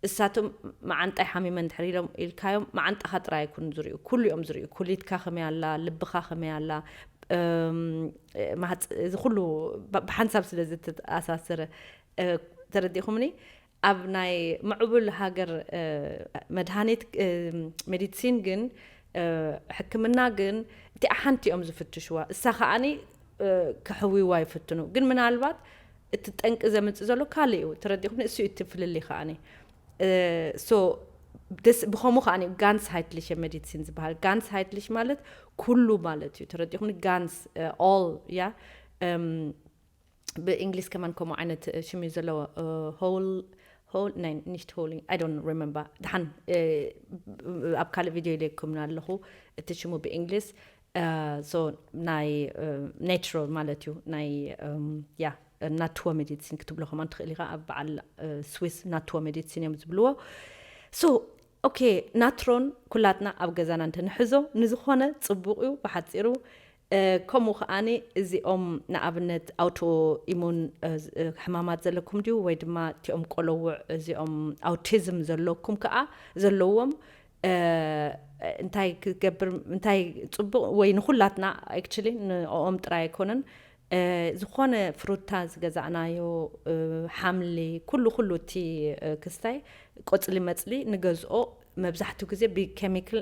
እሳቶም መዓንጣይ ሓሚመን ድሕሪ ኢሎም ኢልካዮም መዓንጣኻ ጥራይ ኣይኩን ዝርዩ ኩሉ እዮም ዝርዩ ኩሊትካ ከመይ ኣላ ልብኻ ከመይ ኣላ እዚ ኩሉ ብሓንሳብ ስለ ዝተኣሳሰረ ተረዲእኹምኒ ኣብ ናይ ምዕቡል ሃገር መድሃኒት፣ ሜዲትሲን፣ ግን ሕክምና ግን እቲኣ ሓንቲ እዮም ዝፍትሽዋ እሳ ከኣኒ ከሕውይዋ ይፍትኑ ግን ምናልባት እቲ ጠንቂ ዘምጽእ ዘሎ ካልእ እዩ ተረዲኹምኒ እሱ እቲ ፍልልይ ከኣኒ ሶ ደስ ብኸምኡ ከኣኒ ጋንስ ሃይትሊሽ ሜዲትሲን ዝበሃል ጋንስ ሃይትሊሽ ማለት ኩሉ ማለት እዩ ተረዲኹምኒ ጋንስ ኦል ያ ብእንግሊዝ ከማን ከምኡ ዓይነት ሽም እዩ ዘለዎ ሆል ናይ ኒሽት ሆል ኣይ ዶንት ሪመምበር ድሓን ኣብ ካልእ ቪድዮ ኢለኩምና ኣለኹ እቲ ሽሙ ብእንግሊዝ ሶ ናይ ናቹራል ማለት እዩ ናይ ያ ናትዎ ሜዲሲን ክትብሎ ከማን ትኽእል ኢኻ ኣብ በዓል ስዊስ ናትዎ ሜዲሲን እዮም ዝብልዎ ሶ ኦኬ ናትሮን ኩላትና ኣብ ገዛና እንትንሕዞ ንዝኾነ ፅቡቕ እዩ ብሓፂሩ ከምኡ ከኣ እዚኦም ንኣብነት ኣውቶ ኢሙን ሕማማት ዘለኩም ድዩ ወይ ድማ እቲኦም ቆሎዉዕ እዚኦም ኣውቲዝም ዘለኩም ከኣ ዘለዎም እንታይ ክገብር እንታይ ጽቡቕ ወይ ንኹላትና ኣክቹሊ ንኦም ጥራይ ኣይኮነን ዝኾነ ፍሩታ ዝገዛእናዮ ሓምሊ ኩሉ ኩሉ እቲ ክስታይ ቆጽሊ መጽሊ ንገዝኦ መብዛሕቱ ግዜ ብከሚክል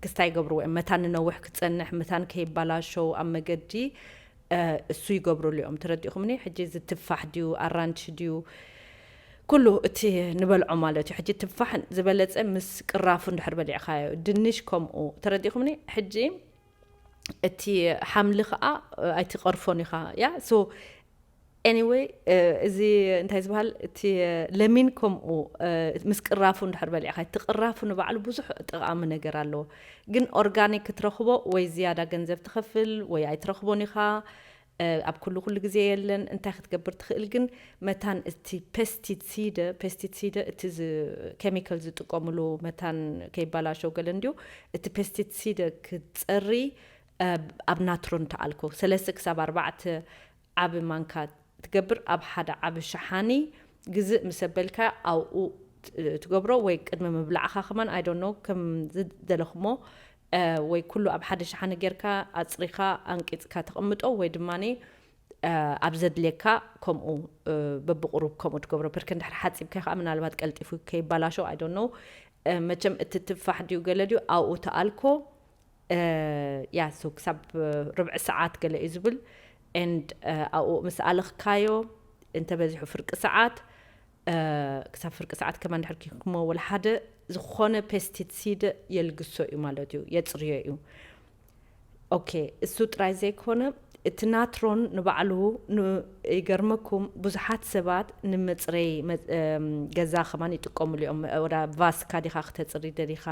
ክስታ ይገብርዎ እዮም መታን ንነውሕ ክፀንሕ መታን ከይባላሸው ኣብ መገዲ እሱ ይገብርሉ እዮም ተረዲእኹምኒ ሕጂ እዚ ትፋሕ ድዩ ኣራንቺ ድዩ ኩሉ እቲ ንበልዖ ማለት እዩ ሕጂ ትፋሕ ዝበለፀ ምስ ቅራፉ እንድሕር በሊዕካዮ ድንሽ ከምኡ ተረዲእኹምኒ ሕጂ እቲ ሓምሊ ከዓ ኣይትቐርፎን ኢኻ ያ ሶ Anyway እዚ እንታይ ዝባሃል እቲ ለሚን ከምኡ ምስ ቅራፉ እንድሕር በሊዕኻ እቲ ቅራፉ ንባዕሉ ብዙሕ ጠቓሚ ነገር ኣለዎ ግን ኦርጋኒክ ክትረኽቦ ወይ ዝያዳ ገንዘብ ትኸፍል ወይ ኣይትረኽቦን ኢኻ ኣብ ኩሉ ኩሉ ግዜ የለን እንታይ ክትገብር ትኽእል ግን መታን እቲ ፔስቲሲደ ፔስቲሲደ እቲ ኬሚካል ዝጥቀምሉ መታን ከይባላሸው ገለ እንድዩ እቲ ፔስቲሲደ ክትፀሪ ኣብ ናትሮን ተኣልኮ ሰለስተ ክሳብ ኣርባዕተ ዓቢ ማንካ ትገብር ኣብ ሓደ ዓቢ ሸሓኒ ግዝእ ምስ ኣበልካዮ ኣብኡ ትገብሮ ወይ ቅድሚ ምብላዕካ ከማን ኣይ ዶንት ኖው ከም ዝደለኹሞ ወይ ኩሉ ኣብ ሓደ ሸሓኒ ጌርካ ኣጽሪኻ ኣንቂጽካ ተቐምጦ ወይ ድማ ኣብ ዘድልየካ ከምኡ በብቑሩብ ከምኡ ትገብሮ ብርክ እንድሕር ሓጺብካዮ ከኣ ምናልባት ቀልጢፉ ከይባላሾ ኣይ ዶንት ኖው መቸም እቲ ትፋሕ ድዩ ገለ ድዩ ኣብኡ ተኣልኮ እያ so ክሳብ ርብዒ ሰዓት ገለ እዩ ዝብል and ኣብኡ ምስ ኣለኽካዮ እንተበዚሑ ፍርቂ ሰዓት ክሳብ ፍርቂ ሰዓት ከማ ድሕር ኪንክሞ ወላ ሓደ ዝኾነ ፔስቲሲድ የልግሶ እዩ ማለት እዩ የፅርዮ እዩ ኦኬ እሱ ጥራይ ዘይኮነ እቲ ናትሮን ንባዕሉ ይገርመኩም ብዙሓት ሰባት ንመፅረይ ገዛ ከማን ይጥቀሙሉ እዮም ወዳ ቫስካ ዲኻ ክተፅሪ ደሊኻ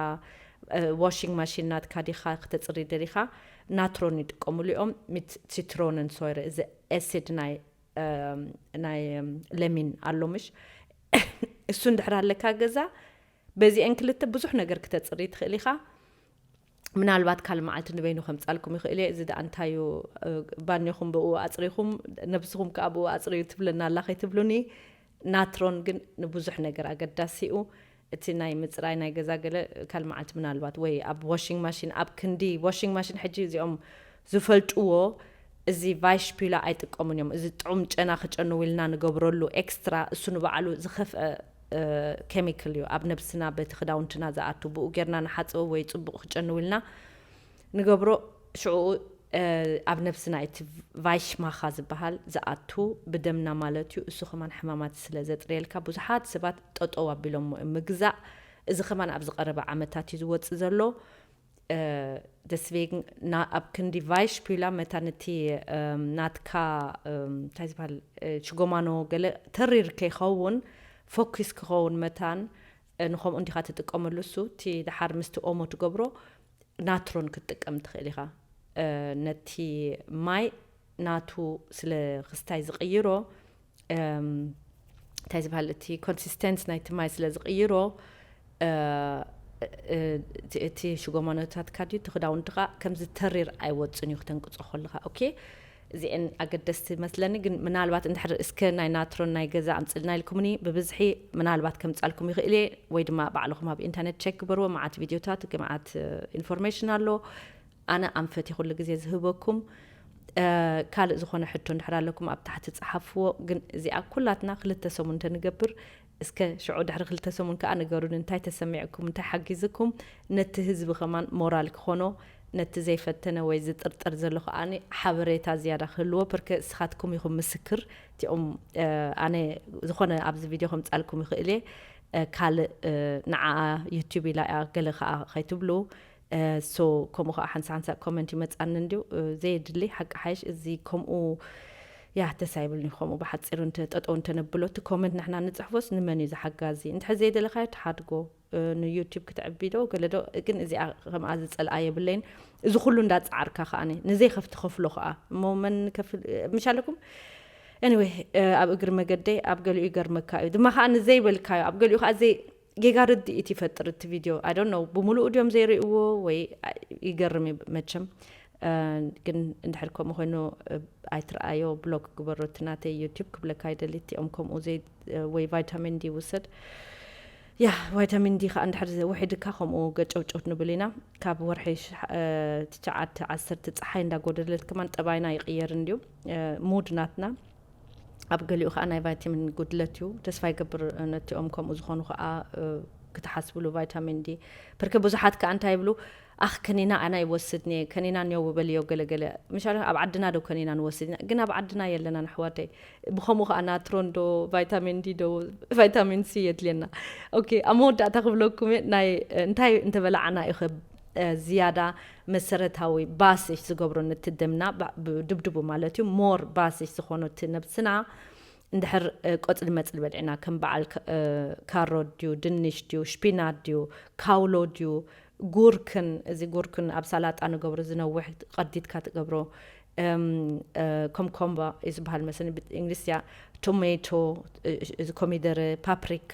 ዋሺንግ ማሺን ናትካ ዲካ ክተጽሪ ደሊካ ናትሮን ይጥቀምሉ እዮም ሚት ሲትሮንን ሶይረ እዚ ኤሲድ ናይ ናይ ለሚን ኣሎ ምሽ እሱ እንድሕር ኣለካ ገዛ በዚኤን ክልተ ብዙሕ ነገር ክተጽሪ ትኽእል ኢኻ ምናልባት ካል መዓልቲ ንበይኑ ከምፃልኩም ይኽእል እየ እዚ ደኣ እንታይ እዩ ባኒኹም ብኡ ኣፅሪኹም ነብስኹም ከዓ ብኡ ኣፅርዩ ትብለና ኣላ ከይትብሉኒ ናትሮን ግን ንብዙሕ ነገር ኣገዳሲ'ዩ። እቲ ናይ ምጽራይ ናይ ገዛ ገለ ካልእ መዓልቲ ምናልባት ወይ ኣብ ዋሺንግ ማሺን ኣብ ክንዲ ዋሺንግ ማሺን ሕጂ እዚኦም ዝፈልጥዎ እዚ ቫይሽፒላ ኣይጥቀሙን እዮም እዚ ጥዑም ጨና ክጨንው ኢልና ንገብረሉ ኤክስትራ እሱ ንባዕሉ ዝኸፍአ ኬሚካል እዩ ኣብ ነብስና በቲ ክዳውንትና ዝኣቱ ብኡ ጌርና ንሓጽቦ ወይ ጽቡቕ ክጨንው ኢልና ንገብሮ ሽዕኡ ኣብ ነብስና እቲ ቫይሽማኻ ዝባሃል ዝኣቱ ብደምና ማለት እዩ እሱ ከማን ሕማማት ስለ ዘጽርየልካ ብዙሓት ስባት ጠጠው ኣቢሎሞ እዮም ምግዛእ እዚ ከማን ኣብዚ ቀረባ ዓመታት እዩ ዝወጽእ ዘሎ ደስቬግን ና ኣብ ክንዲ ቫይሽፒላ መታን እቲ ናትካ እንታይ ዝባሃል ሽጎማኖ ገለ ተሪር ከይኸውን ፎኪስ ክኸውን መታን ንከምኡ እንዲኻ ትጥቀመሉ እሱ እቲ ድሓር ምስቲ ኦሞ ትገብሮ ናትሮን ክትጥቀም ትኽእል ኢኻ። ነቲ ማይ ናቱ ስለ ክስታይ ዝቕይሮ እንታይ ዝበሃል እቲ ኮንሲስተንስ ናይቲ ማይ ስለ ዝቕይሮ እቲ ሽጎማኖታትካ ድዩ እቲ ክዳውንትኻ ከምዚ ተሪር ኣይወፅን እዩ ክተንቅፆ ከለኻ ኦኬ እዚኤን ኣገደስቲ መስለኒ ግን ምናልባት እንድሕር እስከ ናይ ናትሮን ናይ ገዛ ኣምጽልና ኢልኩምኒ ብብዝሒ ምናልባት ከምጻልኩም ይኽእል እየ ወይ ድማ ባዕልኹም ኣብ ኢንተርኔት ቸክ ግበርዎ መዓት ቪድዮታት ግምዓት ኢንፎርሜሽን ኣሎ ኣነ ኣንፈት ኩሉ ግዜ ዝህበኩም ካልእ ዝኾነ ሕቶ እንድሕር ኣለኩም ኣብ ታሕቲ ጸሓፍዎ ግን እዚኣ ኩላትና ክልተ ሰሙን እንተንገብር እስከ ሽዑ ድሕሪ ክልተ ሰሙን ከኣ ንገሩኒ እንታይ ተሰሚዕኩም እንታይ ሓጊዝኩም ነቲ ህዝቢ ከማን ሞራል ክኾኖ ነቲ ዘይፈተነ ወይ ዝጥርጠር ዘሎ ከኣ ሓበሬታ ዝያዳ ክህልዎ ፕርክ እስኻትኩም ኢኹም ምስክር ቲኹም ኣነ ዝኾነ ኣብዚ ቪድዮ ከምጻልኩም ይኽእል እየ ካልእ ንዓኣ ዩቱብ ኢላ እያ ገለ ከኣ ከይትብሉ so ከምኡ ከኣ ሓንሳእ ሓንሳእ comment ይመጻኒ እንድዩ ዘየድሊ ሓቂ ሓይሽ እዚ ከምኡ ያህ ደስ ኣይብልኒ ከምኡ ብሓጺሩ እንተ ጠጠው እንተነብሎ እቲ comment ንሕና ንጽሕፎስ ንመን እዩ ዝሓጋዚ እንድሕር ዘይደለካዮ ትሓድጎ ን YouTube ክትዕቢ ዶ ገለ ዶ ግን እዚኣ ከምኣ ዝጸልኣ የብለይን እዚ ኩሉ እንዳ ጻዓርካ ከኣኒ ንዘይ ከፍ ትኸፍሎ ከኣ እሞ መን ከፍ ምሻለኩም anyway ኣብ እግሪ መገደይ ኣብ ገሊኡ ይገርመካ እዩ ድማ ከኣ ንዘይበልካዮ ኣብ ገሊኡ ከኣ ዘይ ጌጋ ርድኢት ይፈጥር እቲ ቪድዮ ኣይ ዶንት ኖው ብምሉኡ ድዮም ዘይርእይዎ ወይ ይገርም እዩ መቸም ግን እንድሕር ከምኡ ኮይኑ ኣይትረኣዮ ብሎክ ግበሮ እቲ ናተይ ዩቲብ ክብለካ ይደሊ እቲኦም ከምኡ ወይ ቫይታሚን ዲ ውሰድ ያ ቫይታሚን ዲ ከዓ እንድሕር ውሒድካ ከምኡ ገጨውጨውት ንብል ኢና ካብ ወርሒ ትሽዓተ ዓሰርተ ፀሓይ እንዳጎደለት ከማን ጠባይና ይቅየር እንድዩ ሙድ ናትና ኣብ ገሊኡ ከኣ ናይ ቫይታሚን ጉድለት እዩ ተስፋ ይገብር ነቲኦም ከምኡ ዝኾኑ ከኣ ክትሓስብሉ ቫይታሚን ዲ ብርክ ብዙሓት ከኣ እንታይ ይብሉ ኣኽ ከኒና ኣና ይወስድ ኒየ ከኒና ኒዮ ውበልዮ ገለገለ ምሻለ ኣብ ዓድና ዶ ከኒና ንወስድ ኢና ግን ኣብ ዓድና የለናን ኣሕዋተይ ብከምኡ ከኣ ናትሮን ዶ ቫይታሚን ዲ ዶ ቫይታሚን ሲ የድልየና ኦኬ ኣብ መወዳእታ ክብለኩም እየ ናይ እንታይ እንተበላዕና እዩ ዝያዳ መሰረታዊ ባስሽ ዝገብሮ ንቲ ደምና ድብድቡ ማለት እዩ more ባስሽ ዝኾኖ እቲ ነብስና እንድሕር ቆጽሊ መጽሊ በልዕና ከም በዓል ካሮት ድዩ ድንሽ ድዩ ሽፒናት ድዩ ካውሎ ድዩ ጉርክን እዚ ጉርክን ኣብ ሳላጣ ንገብሮ ዝነውሕ ቀዲድካ ትገብሮ ኮምኮምባ እዩ ዝበሃል መሰለኝ ብእንግሊዝያ ቶሜቶ እዚ ኮሚደረ ፓፕሪካ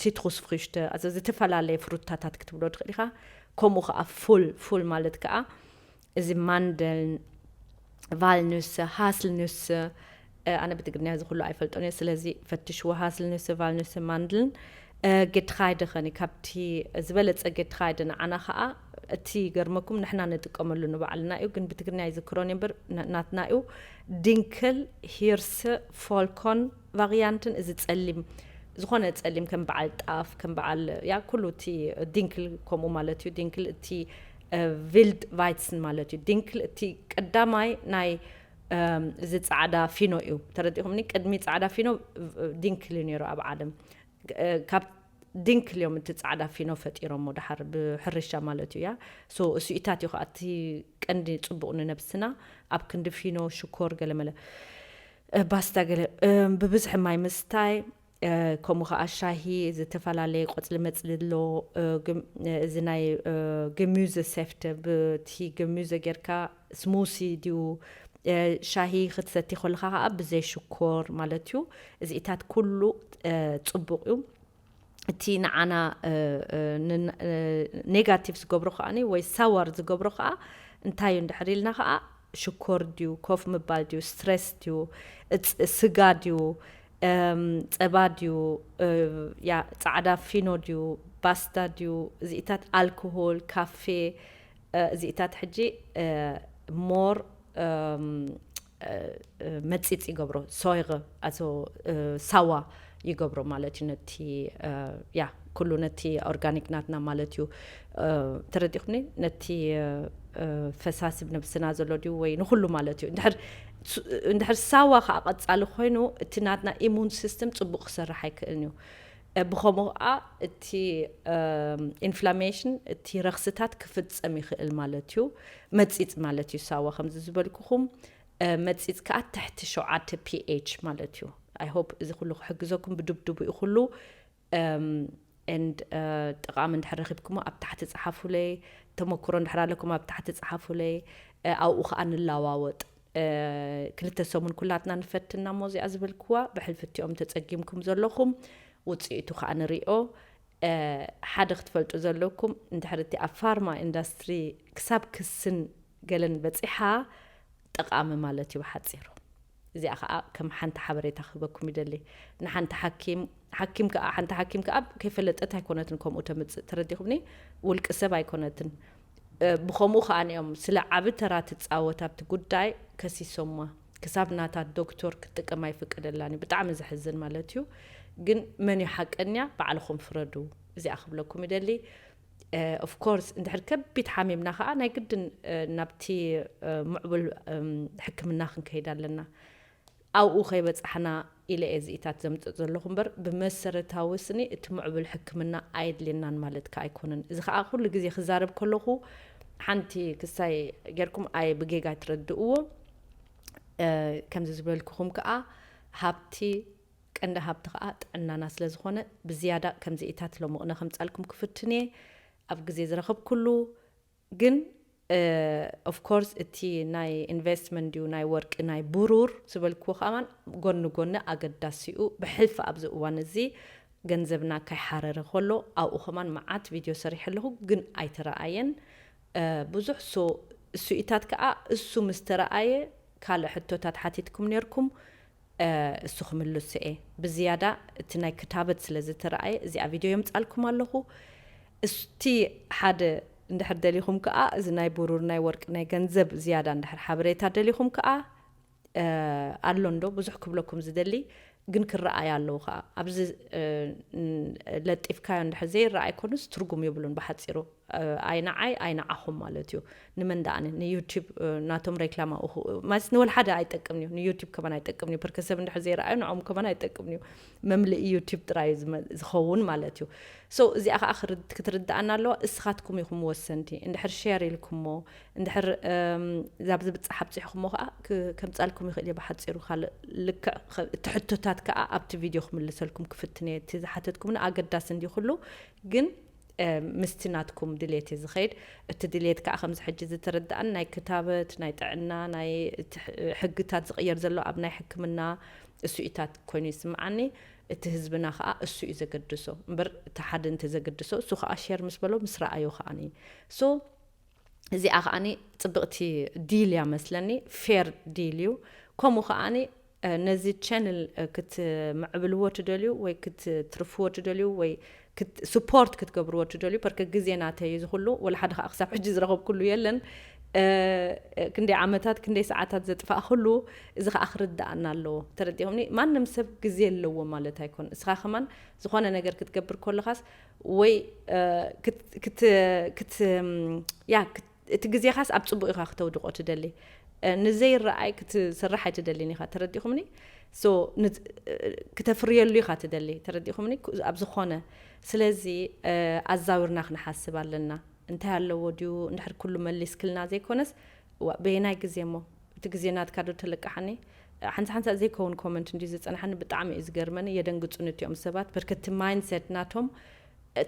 ሲትሩስፍሪሽተ ኣዚ ዝተፈላለየ ፍሩታታት ክትብሎ ትኽእል ኢኻ ከምኡ ከዓ ፉል ፉል ማለት ከዓ እዚ ማንደልን ቫልኑስ ሃስልኑስ ኣነ ብትግርኛ እዚ ኩሉ ኣይፈልጦን እየ ስለዚ ፈትሽዎ ሃስልኑስ ቫልኑስ ማንድልን ጌትኻይደ ኸኒ ካብቲ ዝበለፀ ጌትኻይደ ንዓና ከዓ እቲ ይገርመኩም ንሕና ንጥቀመሉ ንባዕልና እዩ ግን ብትግርኛ ይዝክሮን እምበር ናትና እዩ ድንክል ሂርስ ፎልኮን ቫርያንትን እዚ ጸሊም ዝኾነ ጸሊም ከም በዓል ጣፍ ከም በዓል ያ ኩሉ እቲ ዲንክል ከምኡ ማለት እዩ ዲንክል እቲ ቪልድ ቫይትስን ማለት እዩ ዲንክል እቲ ቀዳማይ ናይ እዚ ጻዕዳ ፊኖ እዩ ተረዲኹምኒ ቅድሚ ጻዕዳ ፊኖ ዲንክል እዩ ነይሩ ኣብ ዓለም ካብ ዲንክል እዮም እቲ ጻዕዳ ፊኖ ፈጢሮሞ ድሓር ብሕርሻ ማለት እያ ሶ እሱኢታት እዩ ከዓ እቲ ቀንዲ ጽቡቕ ንነብስና ኣብ ክንዲ ፊኖ ሽኮር ገለመለ ባስታ ገለ ብብዝሒ ማይ ምስታይ ከምኡ ከኣ ሻሂ ዝተፈላለየ ቆጽሊ መጽሊ ኣሎ እዚ ናይ ገሚዘ ሴፍተ ብቲ ገሚዘ ጌርካ ስሙሲ ድዩ ሻሂ ክትሰቲ ከለካ ከኣ ብዘይ ሽኮር ማለት እዩ እዚኢታት ኩሉ ጽቡቅ እዩ። እቲ ንዓና ኔጋቲቭ ዝገብሮ ከኣ ወይ ሳዋር ዝገብሮ ከኣ እንታይ እዩ እንድሕር ኢልና ከኣ ሽኮር ድዩ ኮፍ ምባል ድዩ ስትረስ ድዩ ስጋ ድዩ ጸባ ድዩ ጻዕዳ ፊኖ ድዩ ባስታ ድዩ እዚኢታት ኣልኮሆል ካፌ እዚኢታት ሕጂ ሞር መጺጽ ይገብሮ ሶይረ ኣዞ ሳዋ ይገብሮ ማለት እዩ ነቲ ያ ኩሉ ነቲ ኦርጋኒክ ናትና ማለት እዩ ተረዲኹምኒ ነቲ ፈሳሲ ብነብስና ዘሎ ድዩ ወይ ንኩሉ ማለት እዩ እንድሕር እንድሕር ሳዋ ከዓ ቀፃሊ ኮይኑ እቲ ናትና ኢሙን ሲስተም ፅቡቅ ክሰርሕ ኣይክእልን እዩ ብኸምኡ ኸኣ እቲ ኢንፍላሜሽን እቲ ረኽስታት ክፍጸም ይኽእል ማለት እዩ። መጺጽ ማለት እዩ ሳዋ ከምዚ ዝበልኩኹም መጺጽ ከኣ ትሕቲ ሸውዓተ ፒኤች ማለት እዩ። ኣይ ሆፕ እዚ ኩሉ ክሕግዘኩም ብድብድቡ እዩ ኩሉ ኤንድ ጠቓሚ እንድሕር ረኺብኩሞ ኣብ ታሕቲ ጸሓፉለይ ተመክሮ እንድሕር ኣለኩም ኣብ ታሕቲ ጸሓፉለይ ኣብኡ ከኣ ንለዋወጥ። ክልተ ሰሙን ኩላትና ንፈትና እሞ እዚኣ ዝበልክዋ ብሕልፍቲኦም ተጸጊምኩም ዘለኹም ውጽኢቱ ከኣ ንሪኦ። ሓደ ክትፈልጡ ዘለኩም እንድሕሪ እቲ ኣብ ፋርማ ኢንዳስትሪ ክሳብ ክስን ገለን በጺሓ ጠቓሚ ማለት እዩ ብሓጺሩ። እዚኣ ከኣ ከም ሓንቲ ሓበሬታ ክህበኩም ይደሊ። ንሓንቲ ሓኪም ሓኪም ከኣ ሓንቲ ሓኪም ከኣ ከይፈለጠት ኣይኮነትን ከምኡ ተምጽእ ተረዲኹምኒ ውልቂ ሰብ ኣይኮነትን። ብኸምኡ ከኣ'ዮም ስለ ዓቢ ተራ ትጻወት ኣብቲ ጉዳይ ከሲሶማ። ክሳብ ናታ ዶክቶር ክትጥቀም ኣይፍቀደላን'ዩ። ብጣዕሚ ዘሕዝን ማለት'ዩ። ግን መን'ዩ ሓቀኛ ባዕልኹም ፍረዱ። እዚኣ ክብለኩም ይደሊ። ኦፍ ኮርስ እንድሕር ከቢድ ሓሚምና ከኣ ናይ ግድን ናብቲ ምዕቡል ሕክምና ክንከይድ ኣለና። ኣብኡ ከይበጻሕና ኢለ'የ እዚኢታት ዘምጽእ ዘለኹ እምበር ብመሰረታዊ ስኒ እቲ ምዕቡል ሕክምና ኣየድልየናን ማለት ከኣ ኣይኮነን። እዚ ከኣ ኩሉ ግዜ ክዛረብ ከለኹ ሓንቲ ክሳይ ጌርኩም ኣይ ብጌጋ ኣይትረድእዎ። ከምዚ ዝበልኩኹም ከኣ ሃብቲ ቀንዲ ሃብቲ ከኣ ጥዕናና ስለ ዝኾነ ብዝያዳ ከምዚኢታት ሎምቕነ ከምጻልኩም ክፍትን'የ። ኣብ ግዜ ዝረኸብኩሉ ግን of course እቲ ናይ ኢንቨስትመንት ድዩ ናይ ወርቂ ናይ ብሩር ዝበልክዎ ከማን ጎኒ ጎኒ ኣገዳሲ ዩ ብሕልፊ ኣብዚ እዋን እዚ ገንዘብና ከይሓረረ ከሎ ኣብኡ ከማን መዓት ቪድዮ ሰሪሐ ኣለኹ ግን ኣይተረኣየን ብዙሕ so እሱኢታት ከኣ እሱ ምስ ተረኣየ ካልእ ሕቶታት ሓቲትኩም ኔርኩም እሱ ክምልሶ'የ ብዝያዳ እቲ ናይ ክታበት ስለ ዝተራኣየ እዚኣ ቪድዮ የምጻልኩም ኣለኹ እስቲ ሓደ እንድሕር ደሊኹም ከኣ እዚ ናይ ቡሩር ናይ ወርቂ ናይ ገንዘብ ዝያዳ እንድሕር ሓበሬታ ደሊኹም ከኣ ኣሎ እንዶ ብዙሕ ክብለኩም ዝደሊ ግን ክረኣዩ ኣለዉ ከኣ ኣብዚ ለጢፍካዮ እንድሕር ዘይረኣይ ኮኑስ ትርጉም የብሉን ብሓጺሩ ኣይ ንዓይ ኣይ ንዓኹም ማለት እዩ ንመን ደኣኒ ንዩቱብ ናቶም ሬክላም ኣብኡ ማለት ንወልሓደ ኣይጠቅምን እዩ ንዩቱብ ከማን ኣይጠቅምን እዩ ብርክ ሰብ እንድሕር ዘይረኣዩ ንዖም ከማን ኣይጠቅምን እዩ መምልኢ ዩቱብ ጥራይ ዝኸውን ማለት እዩ ሶ እዚኣ ከዓ ክትርድኣና ኣለዋ እስኻትኩም ኢኹም ወሰንቲ እንድሕር ሼር ኢልኩሞ እንድሕር ዛብ ዝብፃሕ ኣብፅሕኹሞ ከዓ ከምፃልኩም ይኽእል እየ ብሓፂሩ ካልእ ልክዕ እቲ ሕቶታት ከዓ ኣብቲ ቪድዮ ክምልሰልኩም ክፍትነ እቲ ዝሓተትኩምና ኣገዳሲ እንዲ ኩሉ ግን ምስቲ ናትኩም ድሌት እዩ ዝኸይድ። እቲ ድሌት ከኣ ከምዚ ሕጂ ዝትርድኣኒ ናይ ክታበት፣ ናይ ጥዕና፣ ናይ እቲ ሕግታት ዝቕየር ዘሎ ኣብ ናይ ሕክምና እሱኢታት ኮይኑ ይስምዓኒ። እቲ ህዝብና ከኣ እሱ እዩ ዘገድሶ። እምበር እቲ ሓደ እንተ ዘግድሶ እሱ ከኣ ሼር ምስ በሎ ምስ ረኣዮ ከኣኒ so እዚኣ ከኣኒ ጽብቕቲ ዲል እያ መስለኒ ፌር ዲል እዩ። ከምኡ ከኣኒ ነዚ ቸንል ክትምዕብልዎ ትደልዩ ወይ ክትትርፍዎ ትደልዩ ወይ ስፖርት ክትገብርዎ ትደልዩ ፐርከ ግዜ ናተይ እዩ ዝኩሉ ወላ ሓደ ከዓ ክሳብ ሕጂ ዝረከብኩሉ የለን ክንደይ ዓመታት ክንደይ ሰዓታት ዘጥፋእክሉ እዚ ከዓ ክርድኣና ኣለዎ ተረዲኹምኒ ማንም ሰብ ግዜ ኣለዎ ማለት ኣይኮን እስኻ ከማን ዝኾነ ነገር ክትገብር ኮለኻስ ወይ ክት ክት ያ እቲ ግዜኻስ ኣብ ጽቡቕ ኢኻ ክተውድቖ ትደሊ ንዘይረኣይ ክትስራሕ ኣይትደሊን ኢኻ ተረዲኹምኒ so ክተፍርየሉ ኢኻ ትደሊ ተረዲኹምኒ ኣብ ዝኾነ ስለዚ ኣዛዊርና ክንሓስብ ኣለና እንታይ ኣለዎ ድዩ እንድሕር ኩሉ መሊስክልና ዘይኮነስ እዋ በየናይ ግዜ እሞ እቲ ግዜ ናትካ ዶ ተለቅሓኒ ሓንሳ ሓንሳ ዘይከውን ኮመንት እንድዩ ዝጸንሓኒ ብጣዕሚ እዩ ዝገርመኒ የደንግጹኒ እቲኦም ሰባት በርከቲ ማይንድሴት ናቶም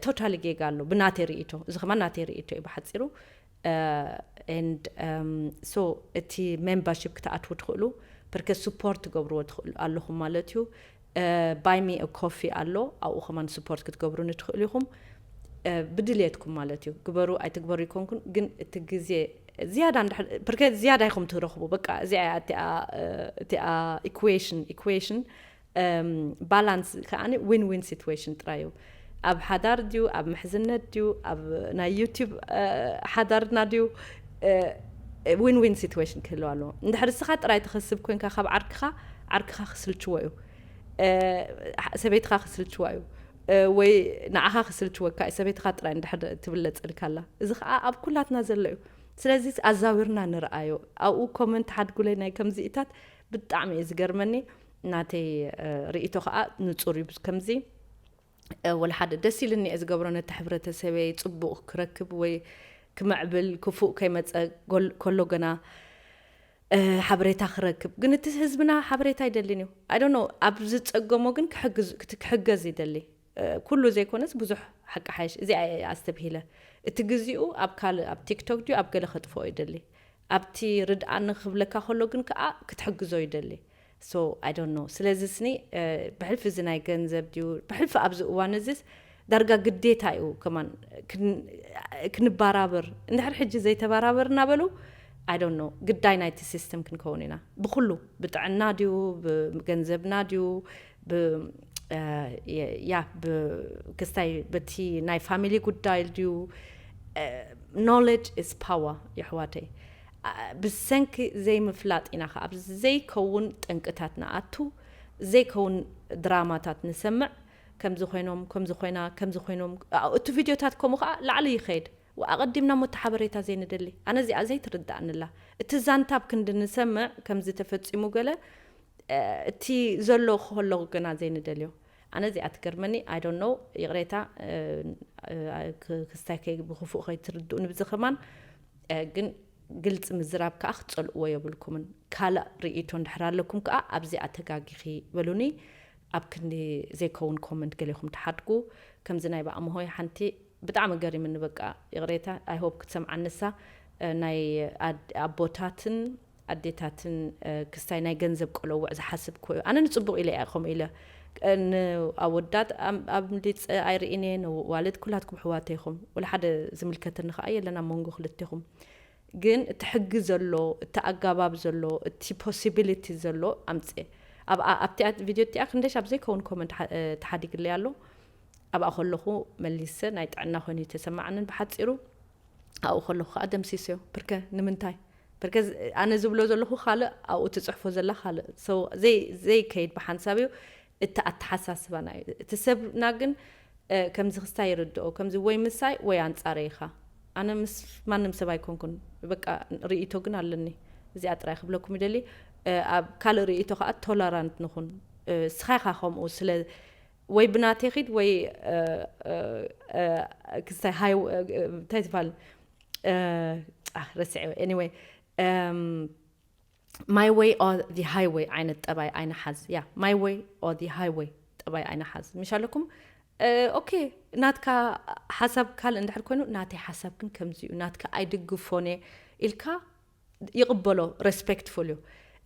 ቶታሊ ጌጋ ኣሎ ብናተይ ሪኢቶ እዚ ከማን ናተይ ሪኢቶ እዩ ብሓጺሩ and so እቲ ሜምበርሺፕ ክትኣትዉ ትኽእሉ ብርከት ስፖርት ትገብርዎ ትኽእሉ ኣለኹም ማለት እዩ ባይ ሚ ኮፊ ኣሎ ኣብኡ ከማን ስፖርት ክትገብሩኒ ትኽእሉ ኢኹም ብድልየትኩም ማለት እዩ ግበሩ ኣይትግበሩ ይኮንኩን ግን እቲ ግዜ ዝያዳ ብርከት ዝያዳ ኢኹም ትረኽቡ በቃ እዚኣ እቲኣ ኢኩዌሽን ኢኩዌሽን ባላንስ ከኣ ዊን ዊን ሲትዌሽን ጥራይ እዩ። ኣብ ሓዳር ድዩ ኣብ ምሕዝነት ድዩ ኣብ ናይ ዩቲብ ሓዳርና ድዩ ዊን ዊን ሲትዌሽን ክህልው ኣለዎ። እንድሕር እስኻ ጥራይ ትኸስብ ኮንካ ካብ ዓርክኻ ዓርክኻ ክስልችዎ እዩ፣ ሰበይትኻ ክስልችዋ እዩ ወይ ንዓኻ ክስልችወካ እዩ ሰበይትኻ ጥራይ እንድሕር ትብለጸልካ ኣላ። እዚ ከዓ ኣብ ኩላትና ዘሎ እዩ። ስለዚ ኣዛዊርና ንርኣዮ። ኣብኡ ኮመንት ሓድጉለይ ናይ ከምዚኢታት ብጣዕሚ እዩ ዝገርመኒ። ናተይ ሪኢቶ ከኣ ንጹር እዩ ከምዚ ወላ ሓደ ደስ ኢልኒ እየ ዝገብሮ ነቲ ሕብረተሰበይ ጽቡቅ ክረክብ ወይ ክምዕብል ክፉእ ከይመጸ ከሎ ገና ሓበሬታ ክረክብ ግን እቲ ህዝብና ሓበሬታ ኣይደልን እዩ ኣይ ዶንት ኖው ኣብ ዝጸገሞ ግን ክሕግዝ ክሕገዝ ይደሊ ኩሉ ዘይኮነስ ብዙሕ ሓቂ ሓይሽ እዚኣ እየ ኣስተብሂለ እቲ ግዚኡ ኣብ ካልእ ኣብ ቲክቶክ ድዩ ኣብ ገለ ከጥፍኦ ይደሊ ኣብቲ ርድኣኒ ክብለካ ከሎ ግን ከኣ ክትሕግዞ ይደሊ so i don't know ስለዚ ስኒ ብሕልፊ እዚ ናይ ገንዘብ ድዩ ብሕልፊ ኣብዚ እዋን እዚስ ዳርጋ ግዴታ እዩ ከማን ክንባራብር እንድሕር ሕጂ ዘይተባራበርና በሉ i don't know ግዳይ ናይቲ ሲስተም ክንከውን ኢና ብኩሉ ብጥዕና ድዩ ብገንዘብና ድዩ ብ ያ ብ ክስታይ በቲ ናይ ፋሚሊ ጉዳይ ድዩ ኖለጅ ኢዝ ፓወር የሕዋተይ ብሰንኪ ዘይምፍላጥ ኢና ከኣ ኣብ ዘይከውን ጠንቅታት ንኣቱ ዘይከውን ድራማታት ንሰምዕ ከምዚ ኮይኖም ከምዚ ኮይና ከምዚ ኮይኖም እቲ ቪድዮታት ከምኡ ከኣ ላዕሊ ይከይድ ኣቀዲምና ሞት ሓበሬታ ዘይንደሊ ኣነ እዚኣ ዘይትርደኣኒ ኣላ እቲ ዛንታ ኣብ ክንዲ ንሰምዕ ከምዚ ተፈጺሙ ገለ እቲ ዘሎ ኸሎ ግና ዘይንደልዮ ኣነ እዚኣ ትገርመኒ i don't know ይቕሬታ ክስታይ ከይ ብኽፉእ ከይትርድኡኒ ብዚ ከማን ግን ግልፂ ምዝራብ ከዓ ክትፀልእዎ የብልኩምን ካልእ ርኢቶ እንድሕር ኣለኩም ከዓ ኣብዚኣ ተጋጊኺ በሉኒ ኣብ ክንዲ ዘይከውን ኮመንት ገሌኹም ትሓድጉ ከምዚ ናይ ብኣምሆይ ሓንቲ ብጣዕሚ ገሪምኒ በቃ ይቕሬታ i hope ክትሰምዓ ንሳ ናይ ኣቦታትን ኣዴታትን ክስታይ ናይ ገንዘብ ቆለውዕ ዝሓስብ ኮዩ ኣነ ንጽቡቅ ኢለ ኢያ ከምኡ ኢለ ን ኣወዳት ኣብሊጸ ኣይርኢን ኢየ ነዋልድ ኩላትኩም ኣሕዋተይ ኢኹም ወላ ሓደ ዝምልከተኒ ከኣ የለን ኣብ መንጎ ክልቴኹም ግን እቲ ሕጊ ዘሎ እቲ ኣጋባብ ዘሎ እቲ ፖሲቢሊቲ ዘሎ ኣምጽኤ ኣብኣ ኣብቲኣ ቪድዮ እቲኣ ክንደይ ሻብ ዘይከውን ኮመንት ተሓዲግለይ ኣሎ ኣብኣ ከለኹ መሊሰ ናይ ጥዕና ኮይኑ ተሰማዕንን ብሓጺሩ ኣብኡ ከለኹ ከዓ ደምሲሶ ብርከ ንምንታይ ብርከ ኣነ ዝብሎ ዘለኹ ካልእ ኣብኡ ትፅሕፎ ዘላ ካልእ ዘይከይድ ብሓንሳብ እዩ እቲ ኣተሓሳስባና እዩ እቲ ሰብና ግን ከምዚ ክስታይ ይርድኦ ከምዚ ወይ ምሳይ ወይ ኣንፃረ ኢኻ ኣነ ምስ ማንም ሰብ ኣይኮንኩን በቃ ርእይቶ ግን ኣለኒ እዚኣ ጥራይ ክብለኩም ይደሊ ኣብ ካልእ ርእይቶ ከዓ ቶለራንት ንኹን ስኻ ኢኻ ከምኡ ስለ ወይ ብናተይ ኪድ ወይ ክስታይ ሃይ እንታይ ትባል ረስዐ ኤኒወይ ማይ ወይ ኦ ዚ ሃይወይ ዓይነት ጠባይ ኣይንሓዝ ያ ማይ ወይ ኦ ዚ ሃይወይ ጠባይ ኣይንሓዝ ምሽ ኣለኩም ኦኬ ናትካ ሓሳብ ካልእ እንድሕር ኮይኑ ናተይ ሓሳብ ግን ከምዚ እዩ ናትካ ኣይድግፎን እየ ኢልካ ይቅበሎ ረስፐክትፉል እዩ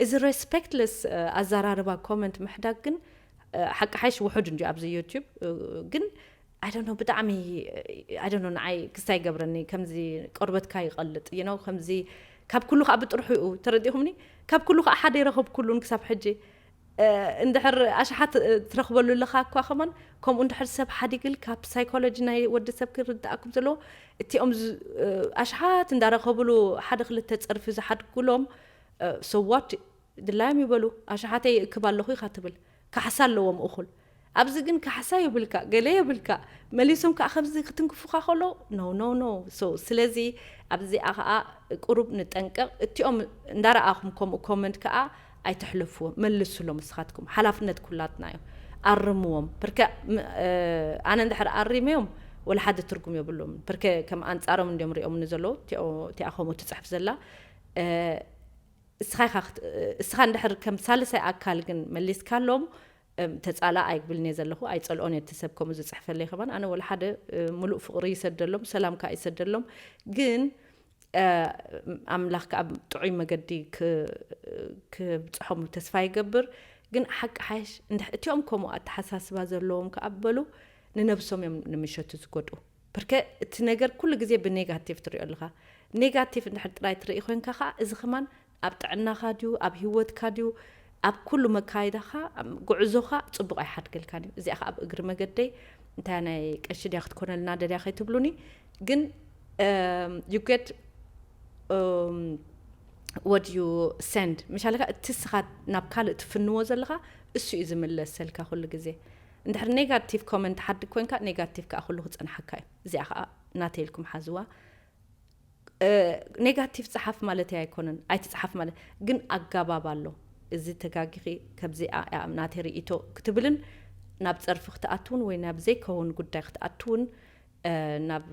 እዚ ረስፐክትለስ ኣዛራርባ ኮመንት ምሕዳግ ግን ሓቂ ሓይሽ ውሑድ እንጂ ኣብዚ ዩቱብ ግን ኣይደኖ ብጣዕሚ ኣይደኖ ንዓይ ክስታ ይገብረኒ ከምዚ ቆርበትካ ይቐልጥ ይኖ ከምዚ ካብ ኩሉ ከዓ ብጥርሑ እዩ ተረዲኹምኒ ካብ ኩሉ ከዓ ሓደ ይረኸብኩሉን ክሳብ ሕጂ እንድሕር ኣሽሓት ትረኽበሉ ኣለኻ እኳ ከማን ከምኡ እንድሕር ሰብ ሓዲግልካ ብሳይኮሎጂ ናይ ወዲ ሰብ ክርዳእ ከም ዘለዎ እቲኦም ኣሽሓት እንዳረኸብሉ ሓደ ክልተ ፀርፊ ዝሓድግሎም ሰዋት ድላዮም ይበሉ ኣሽሓተይ ይእክብ ኣለኹ ኢኻ ትብል ካሕሳ ኣለዎም እኹል ኣብዚ ግን ካሕሳ የብልካ ገለ የብልካ መሊሶም ከኣ ከምዚ ክትንክፉካ ከለዉ no no no so ስለዚ ኣብዚኣ ከኣ ቁሩብ ንጠንቀቅ እቲኦም እንዳረኣኩም ከምኡ comment ከኣ ኣይተሕልፍዎም መልስሎም ንስካትኩም ሓላፍነት ኩላትና እዩ ኣርምዎም ፕርከ ኣነ እንድሕር ኣሪመዮም ወላ ሓደ ትርጉም የብሉምን ፕርከ ከም ኣንጻሮም እንድዮም ሪኦምኒ ዘለዉ እቲኣ ከምኡ ትጽሕፍ ዘላ እስኻ ኢኻ እስኻ እንድሕር ከም ሳልሳይ ኣካል ግን መሊስካሎም ተጻላእ ኣይብልን'የ ዘለኹ፣ ኣይጸልኦን'የ እቲ ሰብ ከምኡ ዝጽሕፈለይ ከማን፣ ኣነ ወላ ሓደ ምሉእ ፍቕሪ ይሰደሎም፣ ሰላም ከኣ ይሰደሎም፣ ግን ኣምላኽ ከኣ ብ ጥዑይ መገዲ ክ ክብጽሖም ተስፋ ይገብር፣ ግን ሓቂ ሓይሽ እንድሕ እቲኦም ከምኡ ኣተሓሳስባ ዘለዎም ከኣ በሉ ንነብሶም እዮም ንምሸቱ ዝጎድኡ፣ ብርከ እቲ ነገር ኩሉ ግዜ ብኔጋቲቭ ትሪኦ ኣለኻ፣ ኔጋቲቭ እንድሕር ጥራይ ትርኢ ኮንካ ከኣ እዚ ከማን ኣብ ጥዕናኻ ድዩ ኣብ ሂወትካ ድዩ ኣብ ኩሉ መካይዳኻ ጉዕዞኻ ጽቡቕ ኣይሓድገልካን እዩ እዚኣ ከኣ ኣብ እግሪ መገደይ እንታያ ናይ ቀሺ ድያ ክትኮነልና ደልያ ከይትብሉኒ ግን you get um, what you send ምሻለካ እቲ ስኻ ናብ ካልእ ትፍንዎ ዘለኻ እሱ እዩ ዝምለሰልካ ኩሉ ግዜ እንድሕር ኔጋቲቭ ኮመንት ሓድግ ኮንካ ኔጋቲቭ ከዓ ኩሉ ክፀንሓካ እዩ እዚኣ ከዓ ናተይ ኢልኩም ሓዝዋ ኔጋቲቭ ጸሓፍ ማለተይ ኣይኮነን ኣይትጽሓፍ ማለ ግን ኣጋባብ ኣሎ እዚ ተጋጊኺ ከብዚ ኣያ ናተይ ርእይቶ ክትብልን ናብ ጸርፊ ክትኣትውን ወይ ናብ ዘይከውን ጉዳይ ክትኣትውን ናብ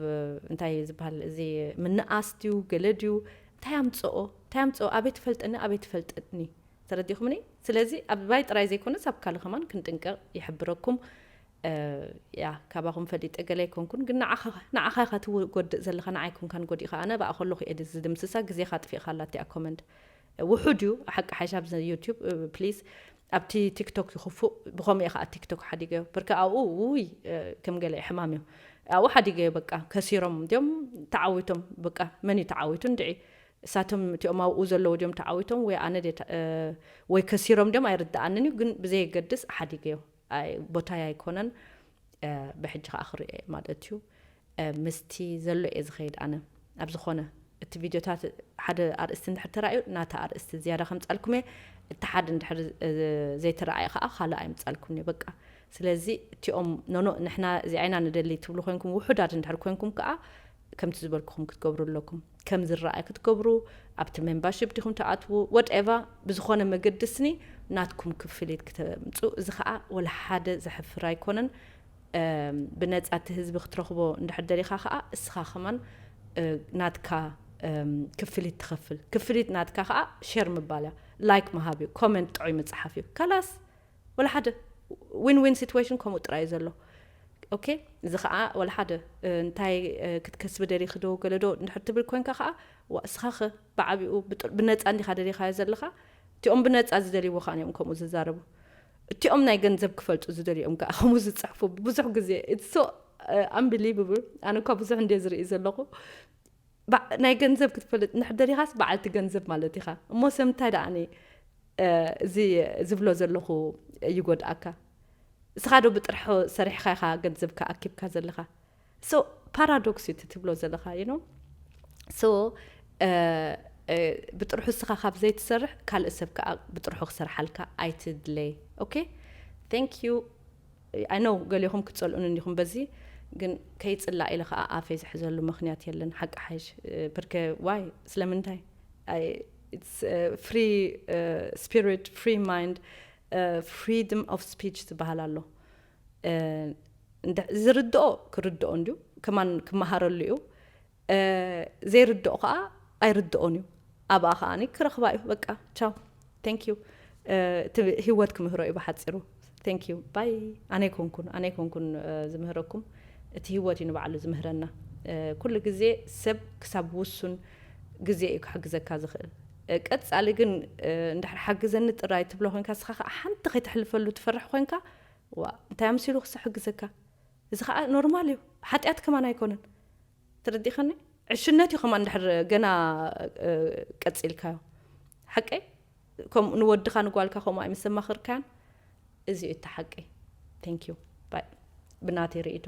እንታይ ዝበሃል እዚ ምንኣስ ድዩ ገለ ድዩ እንታይ ኣምጽኦ እንታይ ኣምጽኦ ኣበይ ትፈልጠኒ ኣበይ ትፈልጠኒ ተረዲኹምኒ ስለዚ ኣብ ባይ ጥራይ ዘይኮነስ ኣብ ካልእ ከማን ክንጥንቀቕ ይሕብረኩም እያ ካባኹም ፈሊጠ ገለ ኣይኮንኩን ግን ንዓኻ ንዓኻ ኢኻ ትጎድእ ዘለኻ ንዓይ ኣይኮንካን ጎዲእኻ ኣነ ብኣ ከለኹ ኤዲት ዝድምስሳ ግዜኻ ኣጥፊእኻ ኣላ እቲኣ ኮመንት ውሑድ እዩ ሓቂ ሓይሽ ኣብዚ ዩቲዩብ ፕሊዝ ኣብቲ ቲክቶክ ይኽፉእ ብኸምኡ ከዓ ቲክቶክ ሓዲገዮ ብርካ ኣብኡ ውይ ከም ገለ ሕማም እዩ ኣብኡ ሓዲገዮ በቃ ከሲሮም እንዲኦም ተዓዊቶም በቃ መን እዩ ተዓዊቱ እንድዒ እሳቶም እቲኦም ኣብኡ ዘለዉ ድዮም ተዓዊቶም ወይ ኣነ ወይ ከሲሮም ድዮም ኣይርድኣንን እዩ ግን ብዘየገድስ ሓዲገዮ ኣይ ቦታይ ኣይኮነን ብሕጂ ከኣ ክሪኦ እየ ማለት እዩ ምስቲ ዘሎ እየ ዝከይድ ኣነ ኣብ ዝኮነ እቲ ቪድዮታት ሓደ ኣርእስቲ እንድሕር ተራእዩ ናታ ኣርእስቲ ዝያዳ ከምጻልኩም እየ እቲ ሓደ እንድሕር ዘይተረኣየ ከኣ ካልእ ኣይምጻልኩም እየ በቃ ስለዚ እቲኦም ኖኖ ንሕና እዚኣ ኢና ንደሊ ትብሉ ኮንኩም ውሑዳት እንድሕር ኮንኩም ከኣ ከምቲ ዝበልኩኹም ክትገብሩ ኣለኩም ከም ዝረኣይ ክትገብሩ ኣብቲ ሜምባርሺፕ ዲኹም ትኣትዉ ወትኤቫ ብዝኾነ መገዲ ስኒ ናትኩም ክፍሊት ክተምፁ እዚ ከዓ ወላ ሓደ ዘሕፍር ኣይኮነን ብነፃ እቲ ህዝቢ ክትረኽቦ እንድሕር ደሊኻ ከዓ እስኻ ከማን ናትካ ክፍሊት ትኸፍል ክፍሊት ናትካ ከዓ ሼር ምባል እያ ላይክ ምሃብ እዩ ኮመንት ጥዑይ ምፅሓፍ እዩ ካላስ ወላ ሓደ ዊን ዊን ሲትዌሽን ከምኡ ጥራይ እዩ ዘሎ ኦኬ እዚ ከዓ ወላ ሓደ እንታይ ክትከስቢ ደሊኺ ዶ ገለ ዶ እንድሕር ትብል ኮንካ ከዓ ዋእስኻኸ ብዓቢኡ ብነፃ እንዲኻ ደሊኻዮ ዘለኻ እቲኦም ብነፃ ዝደልይዎ ከዓ እዮም ከምኡ ዝዛረቡ እቲኦም ናይ ገንዘብ ክፈልጡ ዝደልዩ እዮም ከዓ ከምኡ ዝፅሕፉ ብዙሕ ግዜ ኢትስ ሶ ኣምቢሊቭብል ኣነ እኳ ብዙሕ እንድየ ዝርኢ ዘለኹ ባእ ናይ ገንዘብ ክትፈልጥ እንድሕር ደሊኻስ በዓልቲ ገንዘብ ማለት ኢኻ እሞ ሰብ እንታይ ደኣኒ እዚ ዝብሎ ዘለኹ ይጎድኣካ እስኻ ዶ ብጥርሑ ሰሪሕኻ ኢኻ ገንዘብካ ኣኪብካ ዘለኻ ሶ ፓራዶክስ እዩ እቲ ትብሎ ዘለኻ ዩ ኖ ሶ ብጥርሑ እስኻ ካብ ዘይትሰርሕ ካልእ ሰብ ከዓ ብጥርሑ ክሰርሓልካ ኣይትድለይ ኦኬ ቴንክ ዩ I know ገሌኹም ክትጸልኡኒ እንዲኹም በዚ ግን ከይጽላእ ኢለ ከኣ ኣፈይ ዝሕዘሉ መኽንያት የለን ሓቂ ሓይሽ ብርከ why ስለምንታይ I it's a free spirit free mind freedom of speech ዝበሃል ኣሎ ዝርድኦ ክርድኦ እንድዩ ከማን ክመሃረሉ እዩ ዘይርድኦ ከኣ ኣይርድኦን እዩ ኣብኣ ከኣ ክረክባ እዩ በቃ ቻው ቴንክ ዩ እቲ ህይወት ክምህሮ እዩ ብሓፂሩ ቴንክ ዩ ባይ ኣነ ይኮንኩን ኣነ ይኮንኩን ዝምህረኩም እቲ ህይወት እዩ ንባዕሉ ዝምህረና ኩሉ ግዜ ሰብ ክሳብ ውሱን ግዜ እዩ ክሕግዘካ ዝኽእል ቀጻሊ ግን እንድሕር ሓግዘኒ ጥራይ ትብሎ ኮንካ ስኻ ከዓ ሓንቲ ከይተሕልፈሉ ትፈርሕ ኮንካ ዋ እንታይ ኣምሲሉ ክሰ ሕግዘካ እዚ ከኣ ኖርማል እዩ ሓጥያት ከማን ኣይኮነን ተረዲእካኒ ዕሽነት እዩ ከማን ድሕር ገና ቀጺልካዮ ሓቀይ ከምኡ ንወድኻ ንጓልካ ከምኡ ኣይምሰማኽርካያን እዚ እዩ እቲ ሓቀይ ቴንክ ዩ ባይ ብናተይ ርእይቶ